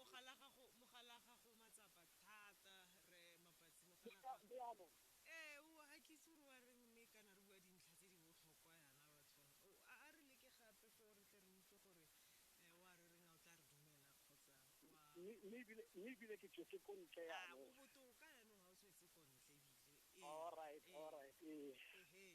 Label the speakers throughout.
Speaker 1: mogala gago
Speaker 2: mogala gago matsapa thata re mabatsi mogala ee o ga ke itse gore wa reng mme kana re bua dintlha tse di botlhokwa yana batho a re leke gape fo re tle re utlwe gore eh, wa re reng a o tla re dumela kgotsa mme
Speaker 1: ebile ke tswetse ko ntle ah, o botoka
Speaker 2: yanong ga o tswetse ko ntle ebile ee,
Speaker 1: ee.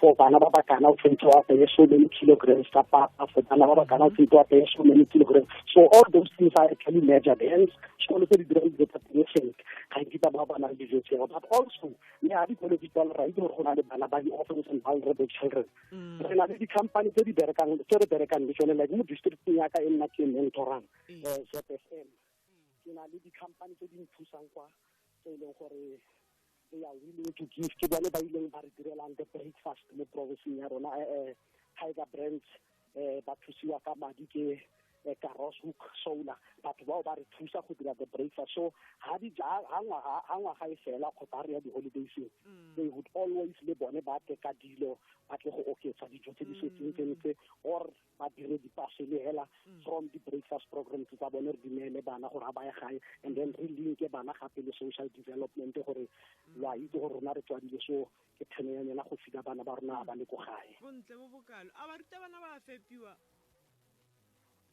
Speaker 1: for bana ba bakana o tshwanetse wa apeye so many kilograms ka papa for bana ba bakana o tshwanetse wa apeye so many kilograms so all those things are actually measured hence sekolo tse di dirang dijo tsa teng sentle ga di ba ba ba nang dijo tseo but also le ga dikolo di tswala ra itse gore go na le bana ba di-orphans and vulnerable children mm. re na le di-company tse di berekang tse re berekang le tsone like mo districteng yaka e nna ke mentorang mm. eh, zfm ke na le di-company tse di nthusang kwa tse e leng gore they are willing to give ke bone ba ileng ba re direlang the breakfast mo provinceng ya rona um tiger brands um ba thusiwa ka madi ke karoshook solar batho bao ba re thusa go dira the breakfast so ha di ja ha ngwaga e fela kgotsa re ya di-holidayseng mm. they would always le bone ba tle ka dilo ba tle go oketsa dijo tse di mm. setseng tse or badiredi pasele hela mm. from the breakfast programs tsa bone re dumele bana gore ga ba ye gae and then re linke bana gape le social development gore mm. lo a itse gore rona re tswadile so ke theno ya nyela go fika bana ba rona ba le ko gae bontle bo bokalo a
Speaker 2: baruta bana ba fepiwa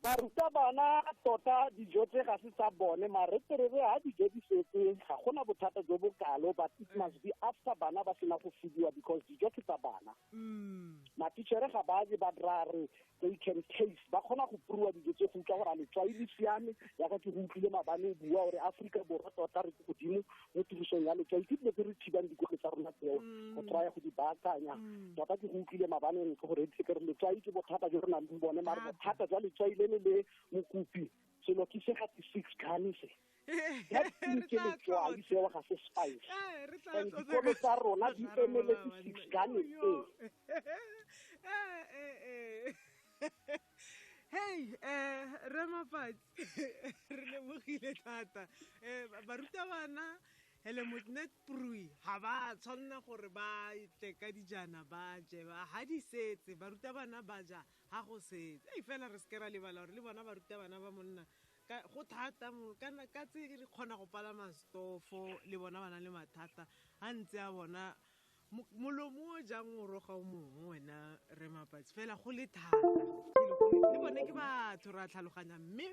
Speaker 2: baruta
Speaker 1: bana tota dijo tse ga se tsa bone mare terere ga dijo di setse ga gona bothata jo bokalo but it must be after bana ba sena go fidiwa because dijo ke tsa bana mm. matichere ga ba je ba dira re they can taste ba kgona go pruwa dijo tse go utlwa gore a letswai le siame yaka ke go utlwile mabane o bua gore aforika borwa tota re ke godimo mo tirisong ya letswai ke dilo tse re thibang dikolo tsa rona tseo mm. go traya go di baakanya mm. tota ke go utlwile mabaneng ke gore ke re letswai ke bothata jo re nang le bone mare bothata jwa letswai le le le mokopi selo ke se gate six kane se ke letswai seo ga se spice eh, and dikolo tsa rona di emeletse six gane e
Speaker 2: hey eh re mafatsi re lebogile thata eh barutabana hele motnet prui ga ba tshwanela gore ba tle ka dijana ba je ba ga di setse barutabana ba ja ga go setse ei fela re seke ra lebala gore le bona barutabana ba monna go thata ka tse re kgona go palama stofo le bona ba na le mathata ga ntse a bona molomo o jang o roga o mongwe wena re mapatsi fela go le thata le bone ke batho re a tlhaloganyang mme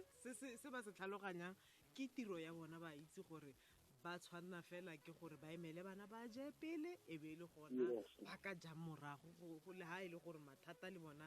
Speaker 2: se ba se tlhaloganyang ke tiro ya bona ba itse gore ba tshwanna fela ke gore ba emele bana ba je pele e be e le gona ba ka jang morago le ga e le gore mathata le bona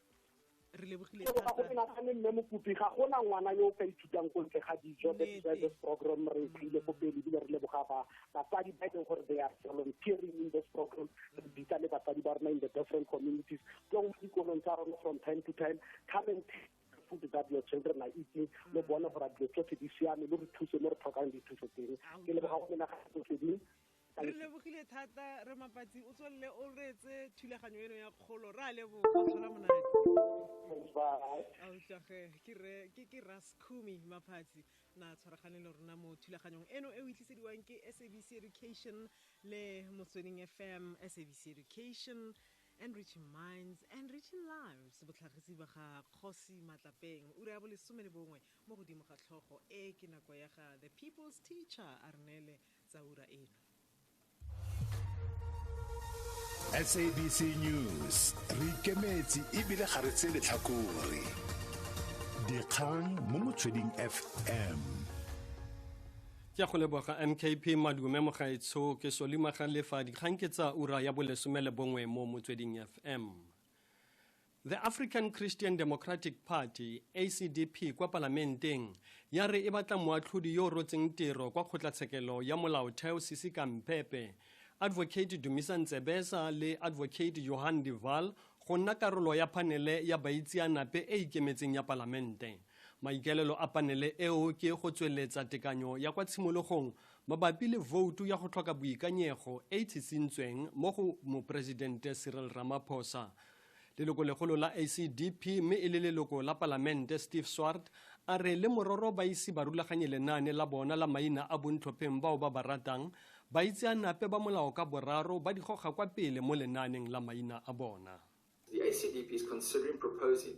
Speaker 2: re lebogile thata go pela ga mme
Speaker 1: mokopi ga gona ngwana yo o ka ithutang ko ntle ga dijo that's why this program re tlile ko pele ebile re leboga ba batsadi ba e leng gore they are volunteering in this program re bitsa le batsadi ba rona in the different communities tlo go dikolong tsa rona from time to time come and food that your children are eating mm. lo bone gore dilo tsotlhe di siame lo re thuse mo re tlhokang dithuso teng ke leboga go menagatoseding re lebogile
Speaker 2: thata re mapatsi o tswelele o reetse thulaganyo eno ya kgolo re a leboga tlhola monate a utlwage ke ke raskumi maphatsi na tshwaragane le rona mo thulaganyong eno e o itlisediwang ke sabc education le motsweding fm sabc education enriching minds enriching lives botlhagisi ba ga kgosi matlapeng ura ya bolesome le bongwe mo godimo ga tlhogo e ke nako ya ga the people's teacher a re neele tsa
Speaker 3: ura eno sabc news re ikemetse ebile ga re tse letlhakore dikgang mo motsweding fm
Speaker 4: ke go leboga mkp madume mogaetsho ke solimaga lefa dikgang ke tsa ura ya bolesome le bongwe mo motsweding fm The African Christian Democratic Party, ACDP, kwa palamenteng ya re e batla moatlhodi yo o rotseng tiro kwa kgotlatshekelo ya molaotheo Sisi Kampepe, Advocate Dumisa Ntsebesa le Advocate Johan de Waal go nna karolo ya panele ya baitseanape e ikemetseng ya palamente. Maikaelelo a panele eo ke go tsweletsa tekanyo ya kwa tshimologong mabapi le voutu ya go tlhoka boikanyego e e tshisintsweng mo go Moporesidente Cyril Ramaphosa leloko legolo la acdp mme e le leloko la palamente steve swart a re le mororo ba ise ba rulaganye lenaane la bona la maina a bontlhopheng bao ba ba ratang ba itseanape ba molao ka boraro ba di goga kwa pele mo lenaaneng la maina a bona The ACDP
Speaker 5: is considering proposing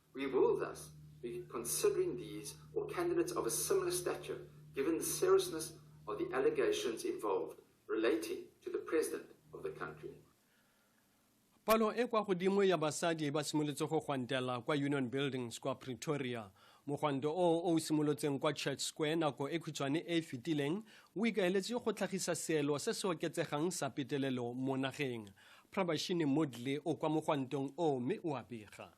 Speaker 5: We will thus be considering these or candidates of a similar stature, given the seriousness of the allegations involved relating to the president of the country.
Speaker 4: palo e kwa godimo ya basadi ba simolotse go gwantela kwa union buildings kwa pretoria mogwanto o o simolotseng kwa church square nako e khutshwane e e fetileng o ikaeletse go tlhagisa seelo se se oketsegang sa petelelo mo nageng prabashini modley o kwa mogwantong o mme o a bega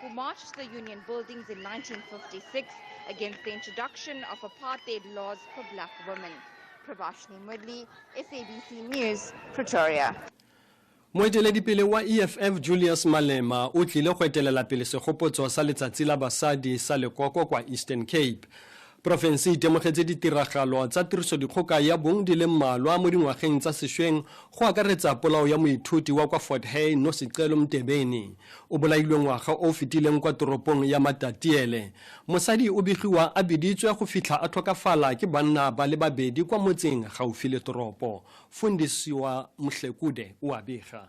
Speaker 6: who marched the union buildings in 1956 against the introduction of apartheid laws for black women. Prabhashni Mudli, SABC News, Pretoria.
Speaker 4: moeteledipele wa eff julius malema o tlile go etelela pele segopotso sa letsatsi la basadi sa lekoko kwa eastern cape Porofense e itemogetse ditiragalo tsa tirisodikgoka ya bong di le mmalwa mo dingwageng tsa sešweng go akaretsa polao ya moithuti wa kwa Fort Hare Nosicelo Mtebeni o bolailwe ngwaga o fetileng kwa toropong ya Matatiele. Mosadi o begiwa a biditswe go fitlha a tlhokafala ke banna ba le babedi kwa motseng gaufi le toropo. Fundisiwa Mhlekude o a bega.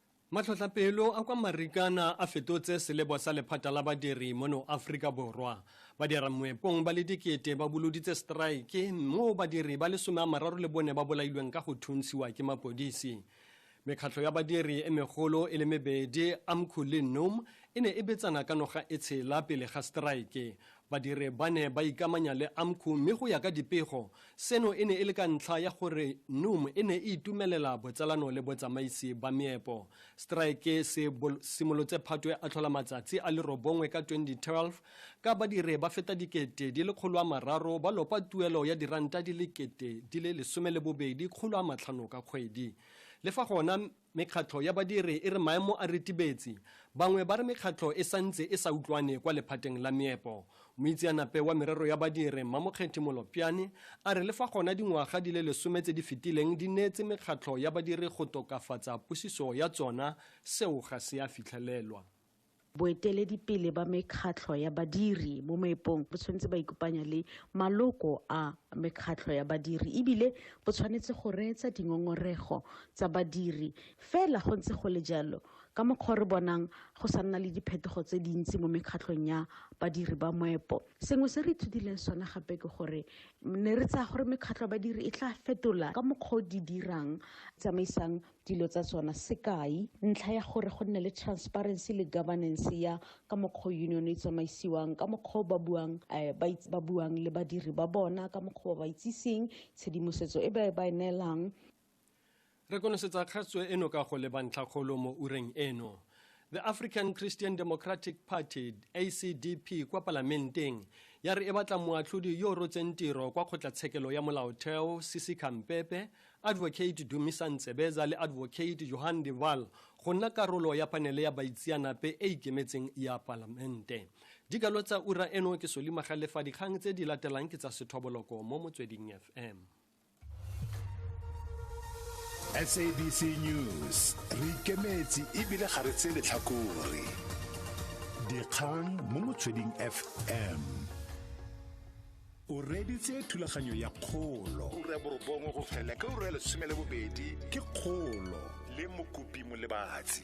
Speaker 4: Matlhotlhapelo a kwa Marikana a fetotse selebo sa lephata la badiri mono Aforika Borwa. Badira moepong ba le dikete ba boloditse strike moo badiri ba lesome a mararo le bone ba bolailweng ka go thuntshiwa ke mapodisi. Mekgatlho ya badiri e megolo e le mebedi Amco le NUM e ne e betsana ka noga e tshela pele ga strike. Badiri ba ne ba ikamanya le AMCU mme go ya ka dipego, seno e ne e le ka ntlha ya gore NUM e ne e itumelela botsalano le botsamaisi ba meepo. Strike se simolotse Phatwe a tlhola matsatsi a le robongwe ka 2012 ka badiri ba feta dikete di le kgolo a mararo ba lopa tuelo ya diranta di le kete di le lesome le bobedi kgolo a matlhano ka kgwedi. Le fa gona Mekgatlho ya badiri e re maemo a ritibetse. Bangwe ba re mekgatlho e santse e sa utlwane kwa lephateng la meepo. Moitseanape wa merero ya badiri, Mmamokgethi Molopyane, a re le fa gona dingwaga di le lesome tse di fetileng di neetse mekgatlho ya badiri go tokafatsa pusiso ya tsona, seo ga se a fitlhelelwa. Boeteledipele
Speaker 7: ba mekgatlho ya badiri mo moepong bo tshwanetse ba ikopanya le maloko a mekgatlho ya badiri ebile bo tshwanetse go reetsa dingongorego tsa badiri. Fela go ntse go le jalo, ka mokgwa o re bonang go sa nna le diphetogo tse dintsi mo mekgatlhong ya badiri ba moepo, sengwe se re ithutileng sone gape ke gore ne re tsaya gore mekgatlho ya badiri e tla fetola ka mokgwa o di dirang, tsamaisang dilo tsa tsona sekai ntlha ya gore go nne le transparency le governance ya ka mokgwa union e tsamaisiwang ka mokgwa ba buang eh, ba buang le badiri ba bona ka mokgwa ba itsiseng tshedimosetso e ba e ba e neelang
Speaker 4: re konosetsa kgatso eno ka go leba ntlhakgolo mo ureng eno the african christian democratic party acdp kwa palamenteng ya re e batla moatlhodi yo o rotseng tiro kwa kgotlatshekelo ya molaotheo sisi kampepe Advocate Dumisa Ntsebeza le Advocate Johan de Waal go nna karolo ya panele ya baitseanape e ikemetseng ya palamente dikalo tsa ura eno ke solimagale fa dikgang tse di latelang ke tsa sethoboloko mo motsweding fm
Speaker 3: sabc news re ikemetse ebile ga re tse letlhakore dikgang mo motsweding fm o reditse thulaganyo ya kgolo ura ya borobongwe go fela ka ura ya lesome le bobedi ke kgolo le mokopi molebatsi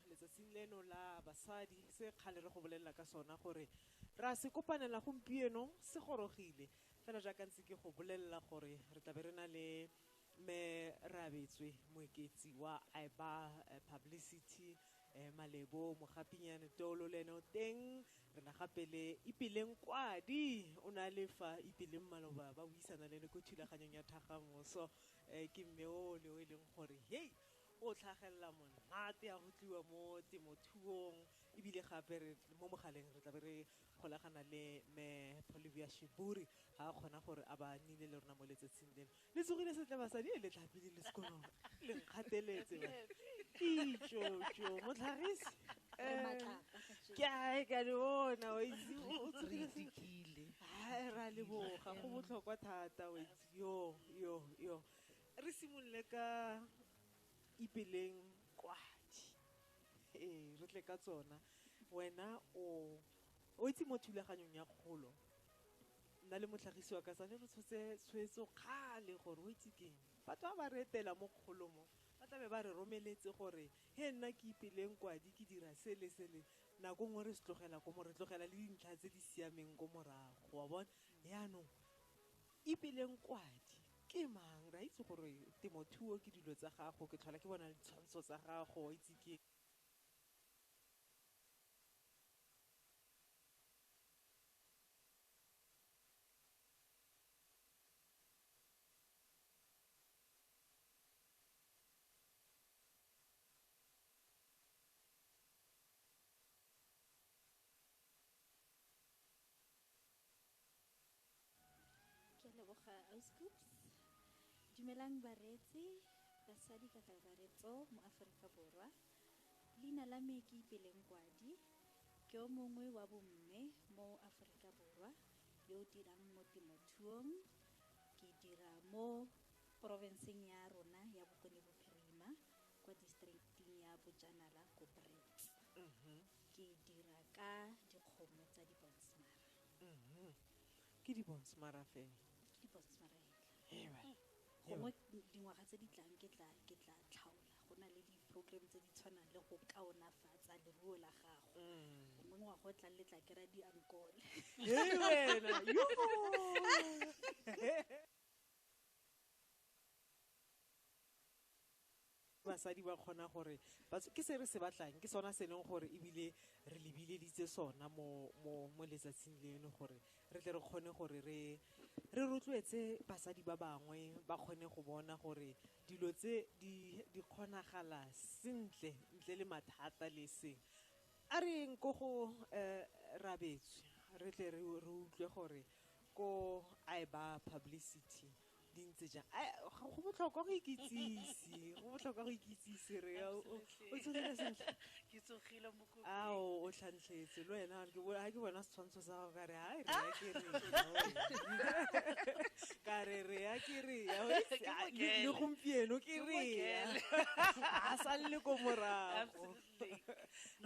Speaker 2: Letsatsing leno la basadi, se kgale re go bolelela ka sona gore re a se kopanela gompieno se gorogile, fela jaaka ntse ke go bolelela gore re tlabe re na le Mme Rabetswe Moeketsi wa IBA Publicity, Malebo Mogapinyane Tolo le ene o teng, re na gape le Ipeleng Kwadi, o ne a le fa Ipeleng maloba ba buisana le ene ko thulaganyong ya Thagamoso, ke mme ole o e leng gore hei! o tlhagelela monate ya go tliwa mo temothuong ebile gape re mo mogaleng re tlabe re golagana le me polivia shiburi ga a kgona gore a ba nile le rona mo letsatsing leno le tsogile setle basadi e le tlhapile le sekolong le nkgateletse itšotso motlhagisi ke ae ka le bona wa itse o tsogile setle ra leboga go botlhokwa thata wa itse yo yo yo Re simolole ka ipeleng kwadi. Ee, re tle ka tsona. Wena o o itse mo thulaganyong ya kgolo. Nna le motlhagisi wa ka sane re tshotse tshwetso kgale gore o itse keng. Batho ba ba re etela mo kgolo mo ba tlabe ba re romeletse gore he nna ke ipeleng kwadi ke dira se le se le nako nngwe re se tlogela ko mo re tlogela le dintlha tse di siameng ko morago wa bona yaanong ebile nkwadi ke mang ra itse gore temothuo ke dilo tsa gago ke tlhola ke bona ditshwantsho tsa gago itse ke
Speaker 8: ke a leboga auscoops dumelang bareetsi basadi ka kakaretso mo aforika borwa leina la me ke ipeleng kwadi ke o mongwe wa bomme mo aforika borwa yo o dirang mo temothuong ke dira mo porofenseng ya rona ya bokone bophirima kwa districting ya bojanala ko brits mm-hmm. ke dira ka dikgomo tsa dibonsmara Mhm. ke
Speaker 2: dibonsmara fela ke dibonsmara
Speaker 8: fela gongwe dingwaga tse di tlang ke tla ke tla tlhaola go na le di-program tse di tshwanang le go kaonafatsa leruo la gago mm. gongwe ngwaga o tlang le tla kry-a diankole
Speaker 2: Basadi ba kgona gore ba tswe. Ke se re se batlang, ke sona se e leng gore ebile re lebileditse sona mo, mo, mo letsatsing leno gore re tle re kgone gore re, re rotloetse basadi ba bangwe ba kgone go bona gore dilo tse di, di kgonagala sentle ntle le mathata le seng. A re yeng ko go Rabetswe re tle re, re utlwe gore ko Ayba Publicity di ntse jang go botlhokwa go ikitsise go botlhokwa go ikitsise re o tsogile sentle ke tsogile
Speaker 9: mokopi a o o tlhantlhetse
Speaker 2: lo ena ke bo ha ke bona setshwantsho sa go ka re ha re ya ke re ka re re ya ke re le gompieno ke re a sa le ko morago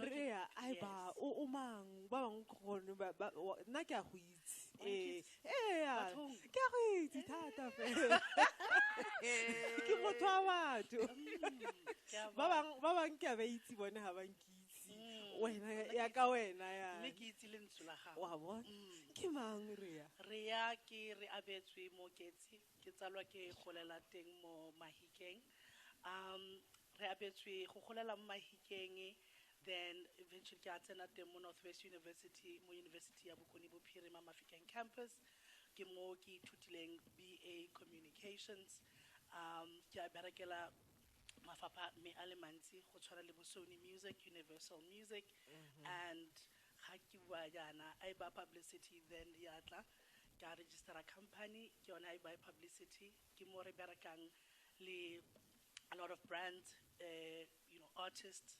Speaker 2: re ya ai ba o mang ba bang gone nna ke a go ee ea ke a go itse thata fela ke motho wa batho ba bang ba bang ke a ba itse bone ga bankitse mm. wena ya ka wena ya mme ke itse le ntsho la
Speaker 9: gago wa bona mm. ke
Speaker 2: mang rea rea
Speaker 9: ke re abetswe mo ketse ke tsalwa ke golela teng mo mahikeng um Re abetswe go golela mo Mahikeng then eventually ke a tsena teng mo North West University mo University ya Bokone Bophirima Mafikeng Campus. Ke mo ke ithutileng BA Communications. Um ke a berekela mafapha me a le mantsi go tshwana le bo Sony Music, Universal Music and ga ke bua jaana Aiba Publicity then ya tla ka register-a company ke yone Aiba Publicity Ke mo re berekang le a lot of brands, you know, artists,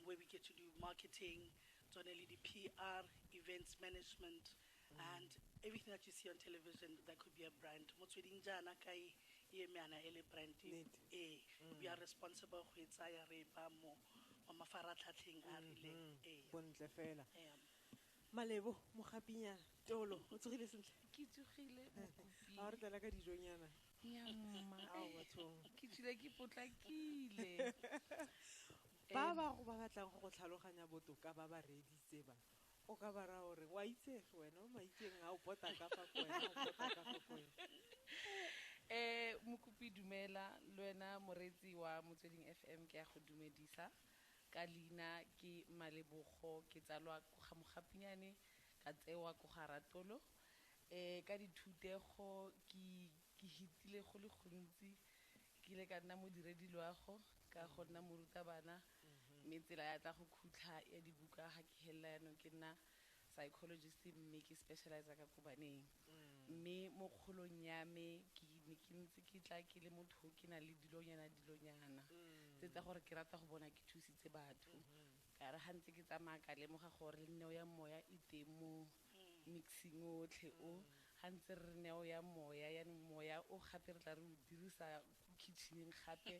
Speaker 9: where we get to do marketing, tsone le di-PR, events management, and everything that you see on television, that could be a brand. Motsweding jaana ka e eme yana e le brand. Nnete. Ee. We are responsible go e tsaya re e baya mo mafaratlhatlheng a
Speaker 2: a rileng. Ee. Bontle fela. Ee. malebo mogapinyana tolo o tsogile sentle ke tsogile
Speaker 9: mokopi a re tlala ka dijonyana
Speaker 2: ya mma
Speaker 9: Ao, eh, bathong. ke tsile ke potlakile
Speaker 2: ba ba go ba batlang go go tlhaloganya botoka ba ba reeditse ba o ka ba raya gore wa itsege wena o maitseng a o pota ka fa ko wena o pota ka fa ko wena
Speaker 9: um mokopi dumela le wena moreetsi wa motsweding f m ke ya go dumedisa Ka leina ke Malebogo ke tsalwa ko ga Mogapinyane ka tsewa ko ga Ratolo. Ka dithutego ke ke hitile go le gontsi ke ile ka nna modiredi loago ka go nna morutabana mme tsela ya tla go khutlha ya dibuka ga ke helela yanong ke nna psychologist mme ke specializer ka kobaneng mme mo kgolong ya me ke ne ke ntse ke tla ke le motho ke na le dilonyana dilonyana tse tsa gore ke rata go bona ke thusitse batho ka re ga ntse ke tsamaya ka lemoga gore le neo ya moya e teng mo mixing otlhe o ga ntse re re neo ya moya yaanong moya o gape re tla re o dirisa ko kitcheneng gape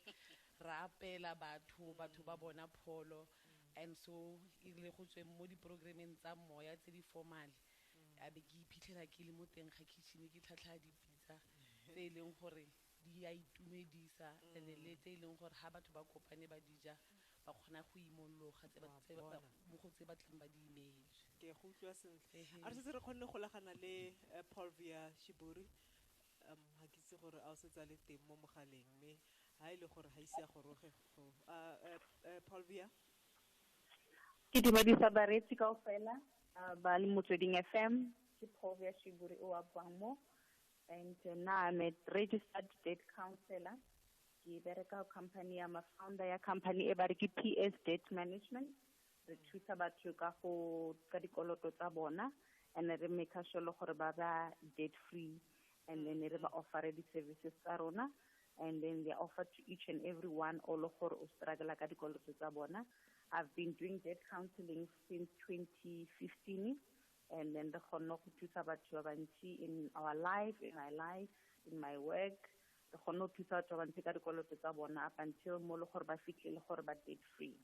Speaker 9: ra apela batho batho ba bona pholo And so e rile go tsweng mo di-program-eng tsa moya tse di formal, a be ke iphitlhela ke le mo teng ga kitchen ke tlhatlhaya dipitsa tse e leng gore di a itumedisa and le tse e leng gore ha batho ba kopane ba di ja ba kgona go imologa tse ba, tse ba, mo go tse ba tlang ba di ineetswe. Ke a go utlwa sentle.
Speaker 2: Ehe. A re setse re kgonne go golagana le Polvia Shiburi. Um, ga ke itse gore a o setse a le teng mo mogaleng, mme ha e le gore ga ise a goroge,
Speaker 10: Ke dumedisa bareetsi kaofela uh, ba le motsweding FM ke Povia Shiburi o wa buang mo and uh, now I'm a registered debt counselor ke bereka company ya ma-founder ya company e ba re ke PS Debt Management re thusa batho ka go ka dikoloto tsa bona and re make sure le gore ba ba debt free and then re ba offere di-services tsa rona and then they offer to each and every one o le gore o struggle ka dikoloto tsa bona i've been doing debt counseling since 2015 and then re kgonne go thusa batho ba bantsi in our life in my life in my work re kgonne go thusa batho ba bantsi ka dikoloto tsa bona up until mo le gore ba fitlhele gore ba debt free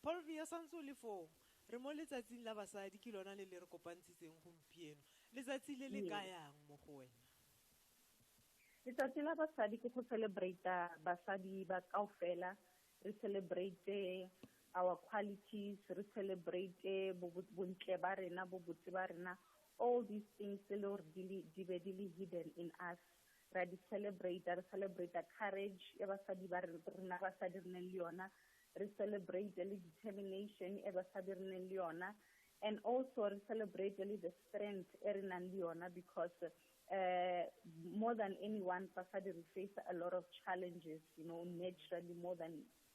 Speaker 2: Paulvia, o santse o le foo. Re mo letsatsing la basadi, ke lona le le re kopantshitseng gompieno. Letsatsi le le Ee. kayang mo go wena?
Speaker 10: Letsatsi la basadi ke go celebrate basadi ba kaofela, re celebrate our qualities, re celebrate bo- bo- bontle ba rena, bobotse ba rena, all these things tse le gore di le- di be di le hidden in us. ra di celebrate re celebrate courage e basadi ba rena basadi re neng le yona re celebrate le determination e basadi re neng le yona and also re celebrate le the strength e re nang le yona because uh, more than anyone basadi re face a lot of challenges you know naturally more than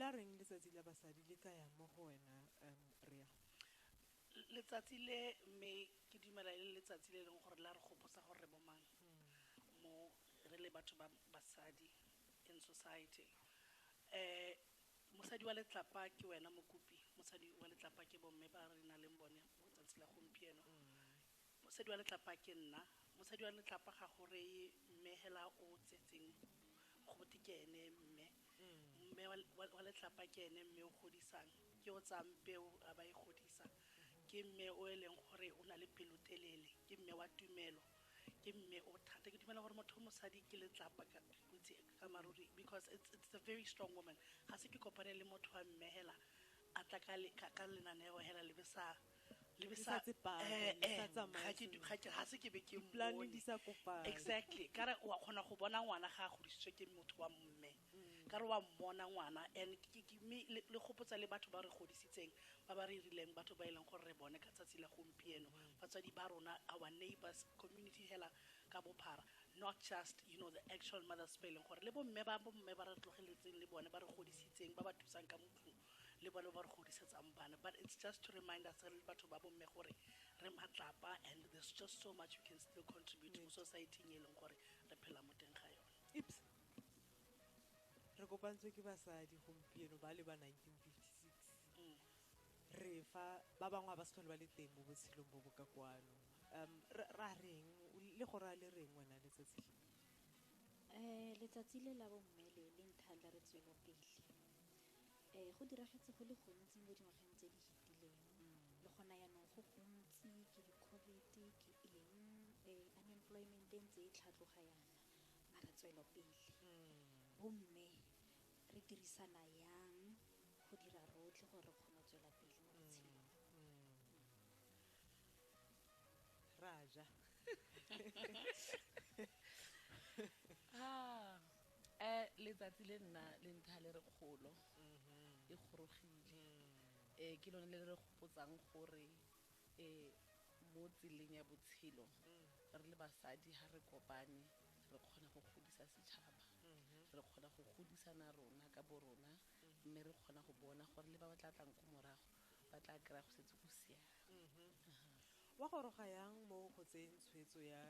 Speaker 2: La reng letsatsi la basadi le kaya mo go wena um Rhea?
Speaker 8: Letsatsi le mme ke dumela e le letsatsi le e leng gore la re gopotsa gore re bo mang mo re le batho ba basadi in society. Um mosadi wa letlapa ke wena mokopi, mosadi wa letlapa ke bo mme ba re nang le bone mo 'tsatsi la gompieno. Mosadi wa letlapa ke nna. Mosadi wa letlapa ga go reye mme hela o tsetseng go bote ke ene mme. Mme wa letlapa ke ene mme o godisang. Ke o tsayang peo a ba e godisa. Ke mme o e leng gore o na le pelotelele. Ke mme wa tumelo. Ke mme o thata. Ke dumela gore motho o mosadi ke letlapa ka bontsi ka maruri because it's a very strong woman. Ga se ke kopane le motho wa mme hela a tla ka lenaneo hela le be sa. le be sa tsepame le sa tsamaye ga se ke be ke mmone di sa kopana
Speaker 2: exactly ka re wa
Speaker 8: kgona go bona ngwana ga a godisitswe ke motho wa mme mm. ka re wa mmona ngwana and mme le gopotsa le batho ba re godisitseng ba ba re rileng batho ba e leng gore re bone ka tsatsi la gompieno mm. batswadi ba rona our neighbors community hela ka bophara not just you know the actual mothers ba e leng gore le bomme ba bomme ba re tlogeletseng le bone ba re godisitseng ba ba thusang ka batho le bale ba re godisetsang bana but it's just to remind us re le batho ba bomme gore re matlapa and there's just so much you can still contribute mo society e leng gore re phela mo teng ga yone ips
Speaker 2: re kopantswe ke basadi gompieno ba le ba 1956 mm. re fa ba bangwe ba se tlhole ba le teng mo botshelong bo bo ka kwano um ra reng le go raya le reng wena letsatsi um letsatsi
Speaker 8: le la bomme le le nthandla re tswelopele um go diragetse go le gontsi mo dingwageng tse di fetileng le gona yaanong go gontsi ke di-covid ke eng um unemployment e ntse e tlhatloga yana mara tswelopele bomme re dirisana yang go dira rotlhe gore re kgone go tswela pele mo
Speaker 2: botshelong
Speaker 9: raja um letsatsi le nna le ntsha le re kgolo e gorogile um ke lone le le re gopotsang gore um mo tseleng ya botshelo re le basadi ga re kopane re kgona go godisa setšhaba re kgona go godisana rona ka bo rona mme re kgona go bona gore le ba ba tla tlang ko morago ba tla kry-a go setse go siame
Speaker 2: wa goroga yang mo go tseyeng tshwetso ya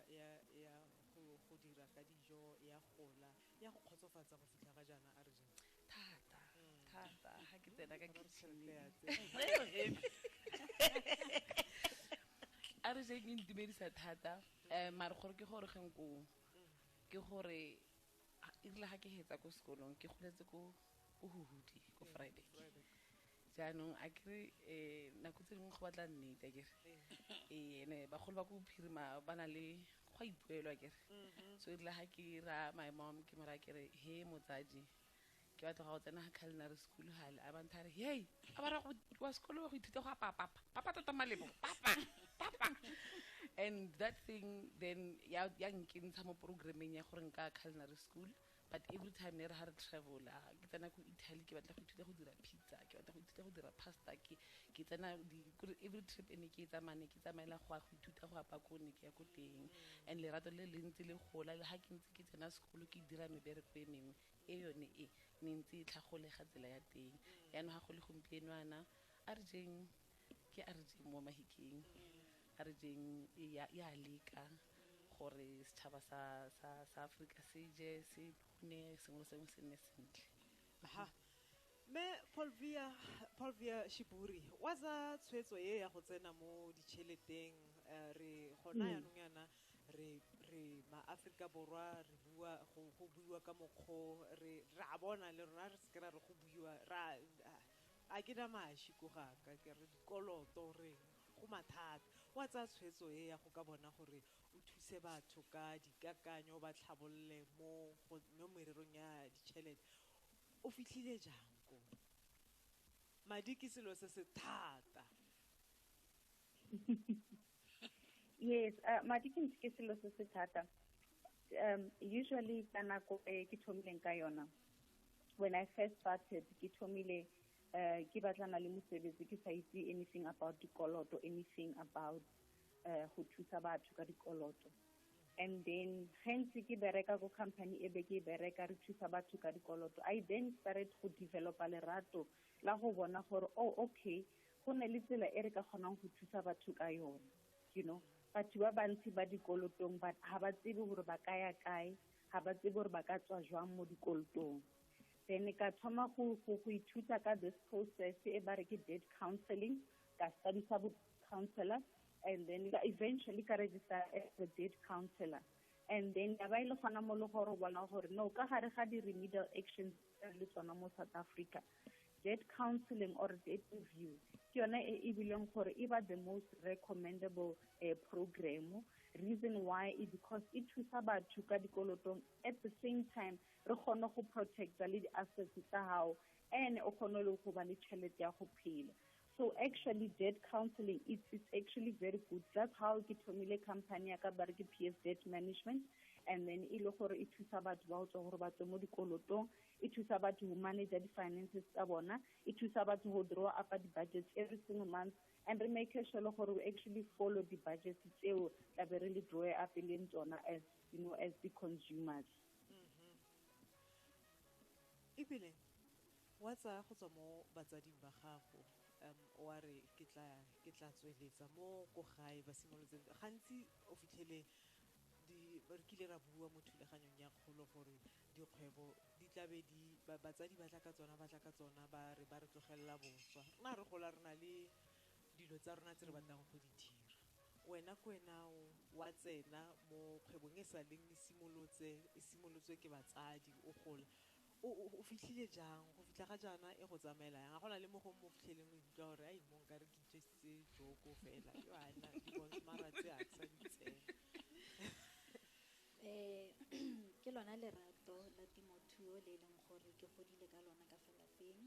Speaker 2: go go dira ka dijo ya gola ya go kgotsofatsa go fitlha ga jaana a re jang thata mm.
Speaker 9: thata ga ke tsena ka a re jang e ntumedisa thata um mare gore ke gore geng koo ke gore erile ga ke hetsa ko sekolong ke goletse ko huhudi ko friday jaanong a kere um nako tse dingwe go batla nnete a kere ee ene bagolo ba ko bophirima ba na le go a ipuelwa kere so erile ga ke ra my mom ke mo raya kere he motsadi ke batla go ya go tsena ga culinary school gale a bantha re hei a ba ra go wa sekolo wa go ithuta go apaya papa papa tota malebo papa papa and that thing then ya ya nkentsha mo programmeng ya gore nka culinary school But every time nere ha re travel-a, ke tsena ko Italy ke batla go ithuta go dira pizza, ke batla go ithuta go dira pasta, ke ke tsena di kore every trip e ne ke e tsamaya ne ke tsamaela go ya go ithuta go apa ko ne ke ya ko teng. And lerato le le ntse le gola le ha ke ntse ke tsena sekolo ke dira mebereko e mengwe e yone e ne ntse e tlhagolega tsela ya teng. Yanong ha go le gompieno yana a re jeng ke a re jeng mo mahikeng a re jeng e ya ya leka gore setšhaba sa sa sa Africa se je se ne sengwe le sengwe se nne sentle aha
Speaker 2: me Polvia Polvia Shiburi wa za tshwetso ye ya go tsena mo ditšheleteng eh, re gona mm. yanong yana re re ma Africa borwa re bua go go buiwa ka mokgo re ra bona le rona re se ra re go buiwa ra ah, a ke na maši ko gaka ke re dikoloto reng go mathata wa tsaya tshwetso e ya go ka bona gore o thuse batho ka dikakanyo o ba tlhabolole mo go- mo mererong ya ditšhelete o fitlhile jang ko madi ke selo se se thata
Speaker 10: yes uh, madi ke ntse ke selo se se thata um usually ka nako e ke thomileng ka yona when i first started ke thomile uh, ke batlana le mosebetsi ke sa itse anything about dikoloto anything about uh, go thusa batho ka dikoloto and then gentse ke bereka ko company e be ke bereka re thusa batho ka dikoloto i then started go developa lerato la go bona gore oh okay go ne le tsela e re ka kgonang go thusa batho ka yone you know batho ba bantsi ba dikolotong ga ba tsebe gore ba ka ya kae ga ba tsebe gore ba ka tswa jwang mo dikolotong then ka thoma go ithuta ka this process e ba re ke dead counseling ka studisa bo counselor and then eventually ka register as a dead counselor and then ya ba e le gona mo le gore bona gore no ka gare ga di-remedial actions le tsona mo south africa dead counseling or dead review ke yone e e bileng gore e ba the most recommendable uh, program reason why is because e thusa batho ka dikolotong at the same time re kgone go protecta le di-assets tsa gago and o kgone le go ba le tšhelete ya go phela So actually debt counseling, it's, it's actually very good. That's how ke thomile company ya ka ba re ke PS Debt Management and then e le gore e thusa batho ba go tswa gore ba tswe mo dikolotong e thusa batho go manage di-finances tsa bona e thusa batho go draw up di-budgets every single month and re make sure le gore we actually follow di-budgets tseo tla be re le draw up e leng tsona as you know as the consumers
Speaker 2: mm-hmm. ebile Wa tsaya go tswa mo batsading ba gago, um wa re ke tla ke tla tsweletsa mo ko gae ba simolotse. Gantsi o fitlhele di re kile ra bua mo thulaganyong ya kgolo gore dikgwebo di tlabe di batsadi ba tla ka tsona ba tla ka tsona ba re ba re tlogelela boswa. Rona re gola re na le dilo tsa rona tse re batlang go di dira. Wena ko wena o wa tsena mo kgwebong e sa leng e simolotse e simolotswe ke batsadi o gola. O o fitlhile jang? Go fitlha ga jaana e go tsamaela yang? A go na le mo gongwe mo o fitlheleng o ikutlwa gore ai mo nkare ke itjwesitse joko fela yo ana di bontsha mara tse a ke sa di tsena. Um
Speaker 8: ke lona lerato la temothuo le e leng gore ke godile ka lona ka fa lapeng.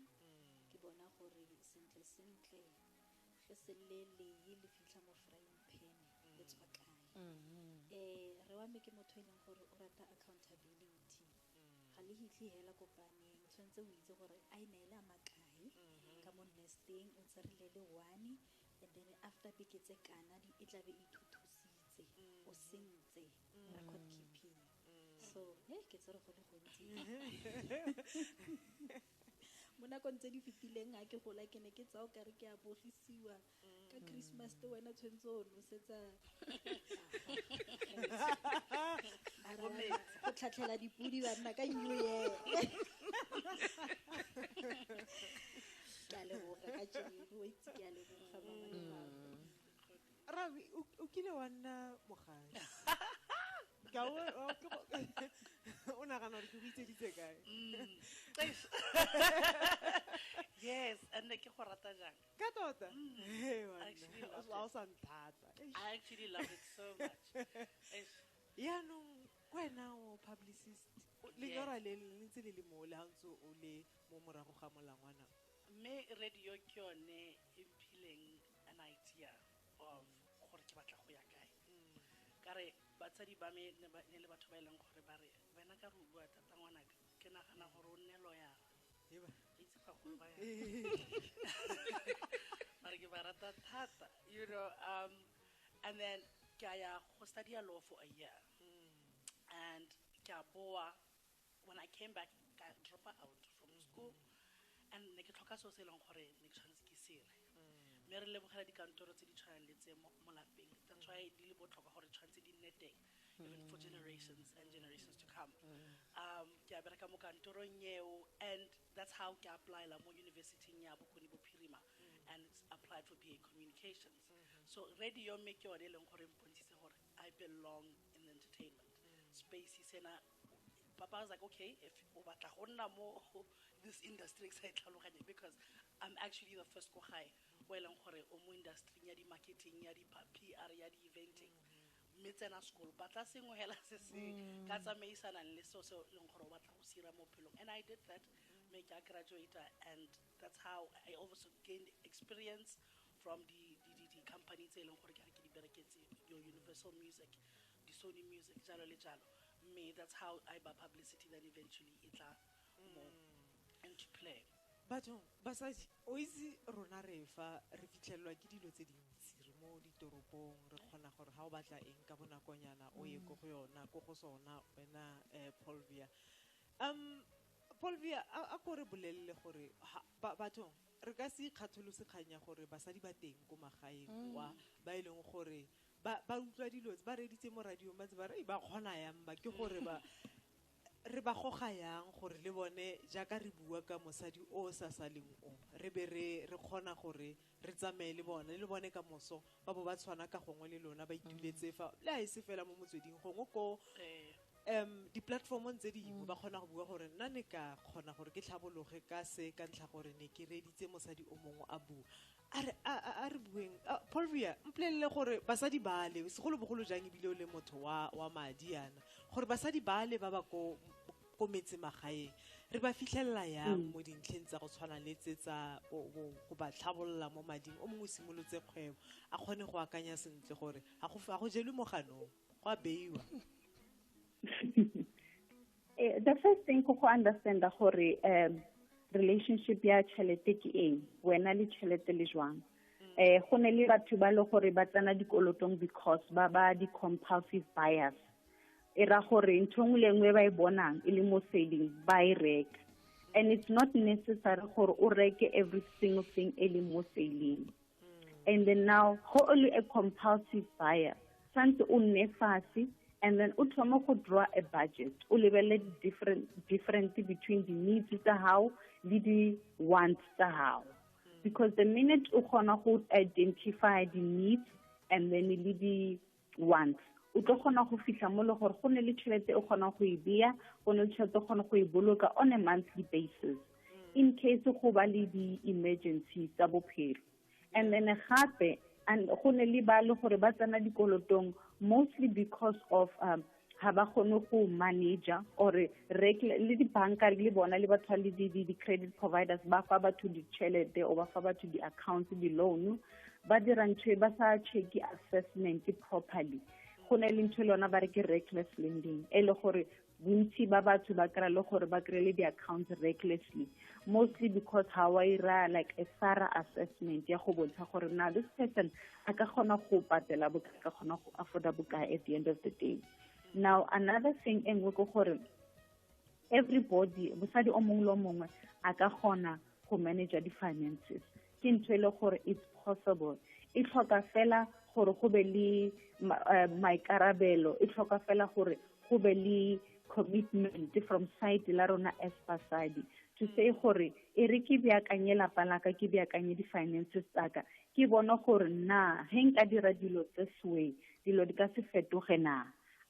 Speaker 8: Ke bona gore sentle-sentle ge se le lee le fitlha mo frying pan le tswa kae. Um rre wa me ke motho e leng gore o rata accountability. ga le hitlhe hela kopaneng o tshwanetse o itse gore a e ne e le a makae mm-hmm. ka mo nesteng o tserile le one and then after beke tse kana e tlabe e thuthusitse o mm-hmm. sentse mm-hmm. record keeping so e ke tsere go le gontsi mo nakong tse di fetileng a ke gola ke ne ke tsao kare ke a bogisiwa ka christmas te wena tshwanetse o nosetsa go tlhatlhela dipodi banna ka new year ke a leboga ka jeo itse ke a leboga mama le mm. rabi
Speaker 2: o kile wa nna mogadi o nagana gore ke go itseditse kae mm.
Speaker 11: yes and ke go rata jang ka tota
Speaker 2: Hey, wena. actually love it. a o sa ntlhatsa Eish. I actually
Speaker 11: love it so much. Eish.
Speaker 2: yaanong kwena o publicist o- lenyora le le ntse le le mo le ga ntse o le mo morago ga molangwana mme
Speaker 11: radio ke yone e mphileng an idea of gore ke batla go ya kae ka re batsadi ba me ne ba- ne le batho ba e leng gore ba re wena ka re o bua thata ngwanaka ke nagana gore o nne loyara itse bagolo ba mare ke ba rata thata you know um and then ke a ya go studia law for a year and ke a boa when i came back ka drop out from school and ne ke tlhoka seo se e leng gore ne ke tshwanetse ke sere mme re lebogela dikantoro tse di tshwanang le tse mo lapeng that's why di le botlhokwa gore tshwanetse di nne teng even for generations and generations to come um ke a bereka mo kantorong eo and that's how ke applyla mo universityng ya bokone bophirima and it's applied for ba communications so radio mme ke yone e leng gore mpontshitse gore i belong in the entertainment space sena papa was like okay if o batla go nna mo this industry ke sa e tlhaloganye because i'm actually the first ko gae o e leng gore o mo industryng ya di-marketing ya di-pr ya di-eventing Mme tsena sekolo, batla sengwe hela se se ka tsamaisanang le seo se leng gore o batla go se ira mo bophelong. And I did that, mme ka graduate-a and that's how I also gained experience from di company tse e leng gore ke re ke di bereketse, your Universal Music, di Sony Music, jalo le jalo. Mme that's how I ba publicity then eventually e tla mo into play. Bathong,
Speaker 2: basadi, o itse rona re fa re fitlhelelwa ke dilo tse dintsi, re mo ditoropong, re kgona gore ga o batla eng ka bonakonyana o ye ko go yona, ko go sona wena um Paulvia. Um Paulvia, a ko re bolelele gore bathong re ka se ikgatholose kgang ya gore basadi ba teng ko magaeng kwa ba e leng gore ba utlwa dilo tse, ba reeditse mo radiong ba ntse ba re ba kgona yang ba, ke gore ba re ba goga yang gore le bone jaaka re bua ka mosadi o o sa saleng o re be re re kgona gore re tsamaye le bone le bone ka moso ba bo ba tshwana ka gongwe le lona ba ituletse fa le a e se fela mo motsweding gongwe ko um di-platformong tse dingwe ba kgona go bua gore nna ne ka kgona gore ke tlhabologe ka se ka ntlha gore ne ke reeditse mosadi o mongwe a bua a re a a- a re bueng Ah, paul via mpolelele gore basadi bale segolobogolo jang ebile o le motho wa wa madi yana gore basadi bale ba ba ko ko metse magaeng re ba fitlhelela yang mo dintlheng tsa go tshwana le tse tsa go- go go ba tlhabolola mo mading o mongwe o simolotse kgwebo a kgone go akanya sentle gore ga go ga go jelwe moganong go a beiwa
Speaker 10: Eh, the first thing go go understanda gore um relationship ya tšhelete ke eng wena le tšhelete le jwang eh go ne le batho ba le gore ba tsena dikolotong because ba ba di-compulsive buyers e ra gore ntho nngwe le nngwe ba e bonang e le mo selling ba e reka and it's not necessary gore o reke every single thing e leng mo selling mm. and then now go only a compulsive buyer santse o nne fatshe and then o thoma go draw a budget o lebelele different different between the needs tsa gago le di wants tsa gago because the minute o kgona go identify the needs and then le di once o tlo kgona go fitlha mo le gore go ne le tšhelete e kgonang go e beya go ne le tšhelete e kgona go e boloka on a monthly basis mm. in case go ba le di-emergency tsa bophelo and then gape go ne le ba le gore ba tsena dikolotong mostly because of um, ga ba kgone go manager or le dibanka le bona le batho le di-credit providers ba fa batho ditšhelete o ba fa batho di-accounts di-loan ba dira ntho e ba sa checke assessment properly go ne le ntho e le yona ba re ke reckless lending e le gore bontsi ba batho ba kry le gore ba kry le di-accounts recklessly mostly because ga wa ira like a thorough assessment ya go bontsha gore na this person a ka kgona go patela bokae ka kgona go afforda bokae at the end of the day now another thing e nngwe ke gore everybody mosadi o mongwe le o mongwe a ka kgona go manager di-finances ke ntho e le gore it's possible e tlhoka fela gore go be le eh, maikarabelo e tlhoka fela gore go be le commitment from side la rona as basadi to say gore e re ke beakanye lapa laka ke beakanye di-finances tsaka ke bone gore na he nka dira dilo tse swe dilo di ka se fetoge na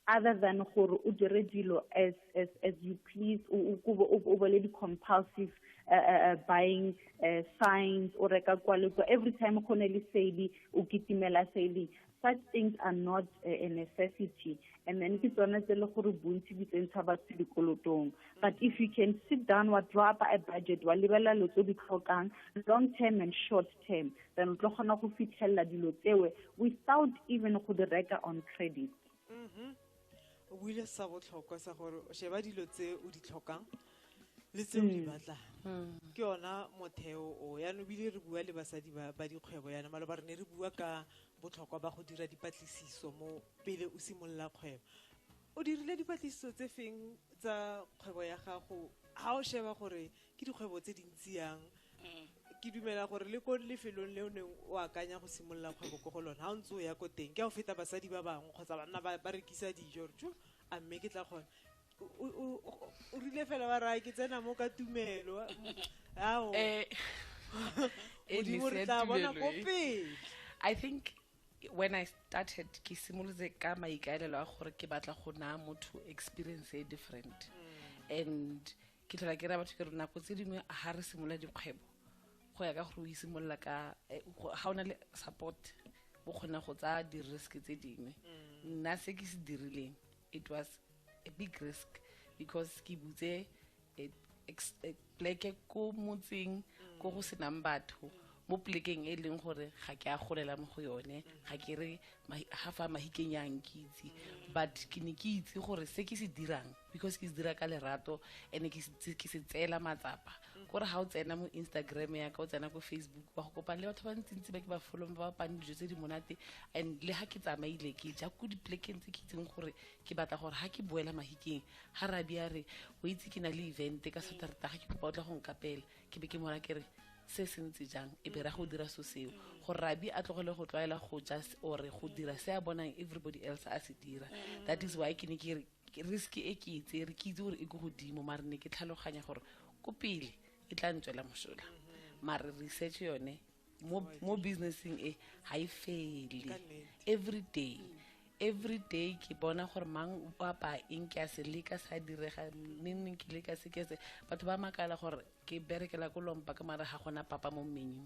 Speaker 10: other than gore o dire dilo as as as you please o o bole di compulsive uh, uh, uh, buying uh, signs o reka kwa le kwa every time go ne le sale o kitimela sale such things are not a necessity and then ke tsone tse le gore bontsi di tsentsha batho dikolotong but if you can sit down wa draw up a budget wa lebelela lo tse di tlhokang long term and short term then o tlo kgona go fitlhelela dilo tsewe without even go di reka on credit mm -hmm.
Speaker 2: o buile sa botlhokwa sa gore o sheba dilo tse o di tlhokang le tse o di mm. batlang mm. ke yona motheo o yana o bile re bua le basadi ba dikgwebo yana maloba re ne re bua ka botlhokwa ba go dira dipatlisiso mo pele o simolola kgwebo o dirile dipatlisiso tse feng tsa kgwebo ya gago ga o sheba gore ke dikgwebo tse dintsi yang ke dumela gore le ko lefelong le o neng o akanya go simolola kgwebo ko go lone ga o ntse o ya ko teng ke a go feta basadi ba bangwe kgotsa banna ba ba rekisa dijo re tjo a mme ke tla kgona O- o o- o- o rile fela wa raya ke tsena mo ka tumelo ao Eh, eh, modimo re Nisea tla bona Tumelo, ko eh. pele I think
Speaker 9: when I started ke simolotse ka maikaelelo a gore ke batla go naya motho experience e different and ke tlhola ke ra batho ke re nako tse dingwe ga re simolola dikgwebo go ya ka gore o isimolola ka eh, ga o na le support o kgona go tsaya di-risk tse dingwe mm. nna se ke se dirileng it was a big risk because ke butse eh, eh, pleke ko motseng ko go senang batho mo plekeng e leng gore ga ke a golela mo go yone ga ke re ga fa mahikeng ya nkitse mm. but ke ne ke itse gore se ke se dirang because ke se dira ka lerato and ke se tseela matsapa mm. kore ga o tsena mo instagram ya ka o tsena ko facebook wa go kopana le batho ba ntsintsi ba ke ba folong ba bapang dijo tse di monate and le ga ke tsamaile ke ja ko diplekeng tse ke itseng gore ke batla gore ga ke boela mahikeng ga rabi a re o itse ke na le event ka saterta ga ke kopa o tla go nkapela ke be ke mora ke re se se ntse jang e be ra go dira so seo gore rabi a tlogele go tlwaela go ja ore go dira se a bonang everybody else a se dira that is why ke ne ke re risk e ke itse re ke itse gore e ko godimo mare ne ke tlhaloganya gore ko pele e tla ntswela mosola mare research yone mo, mo businessing e ga e fele every day every day ke bona gore mang o apa eng ke a se leka sa direga nenneng ke leka se ke se batho ba makala gore ke berekela ko lompa ka mare ga gona papa mo mmenyung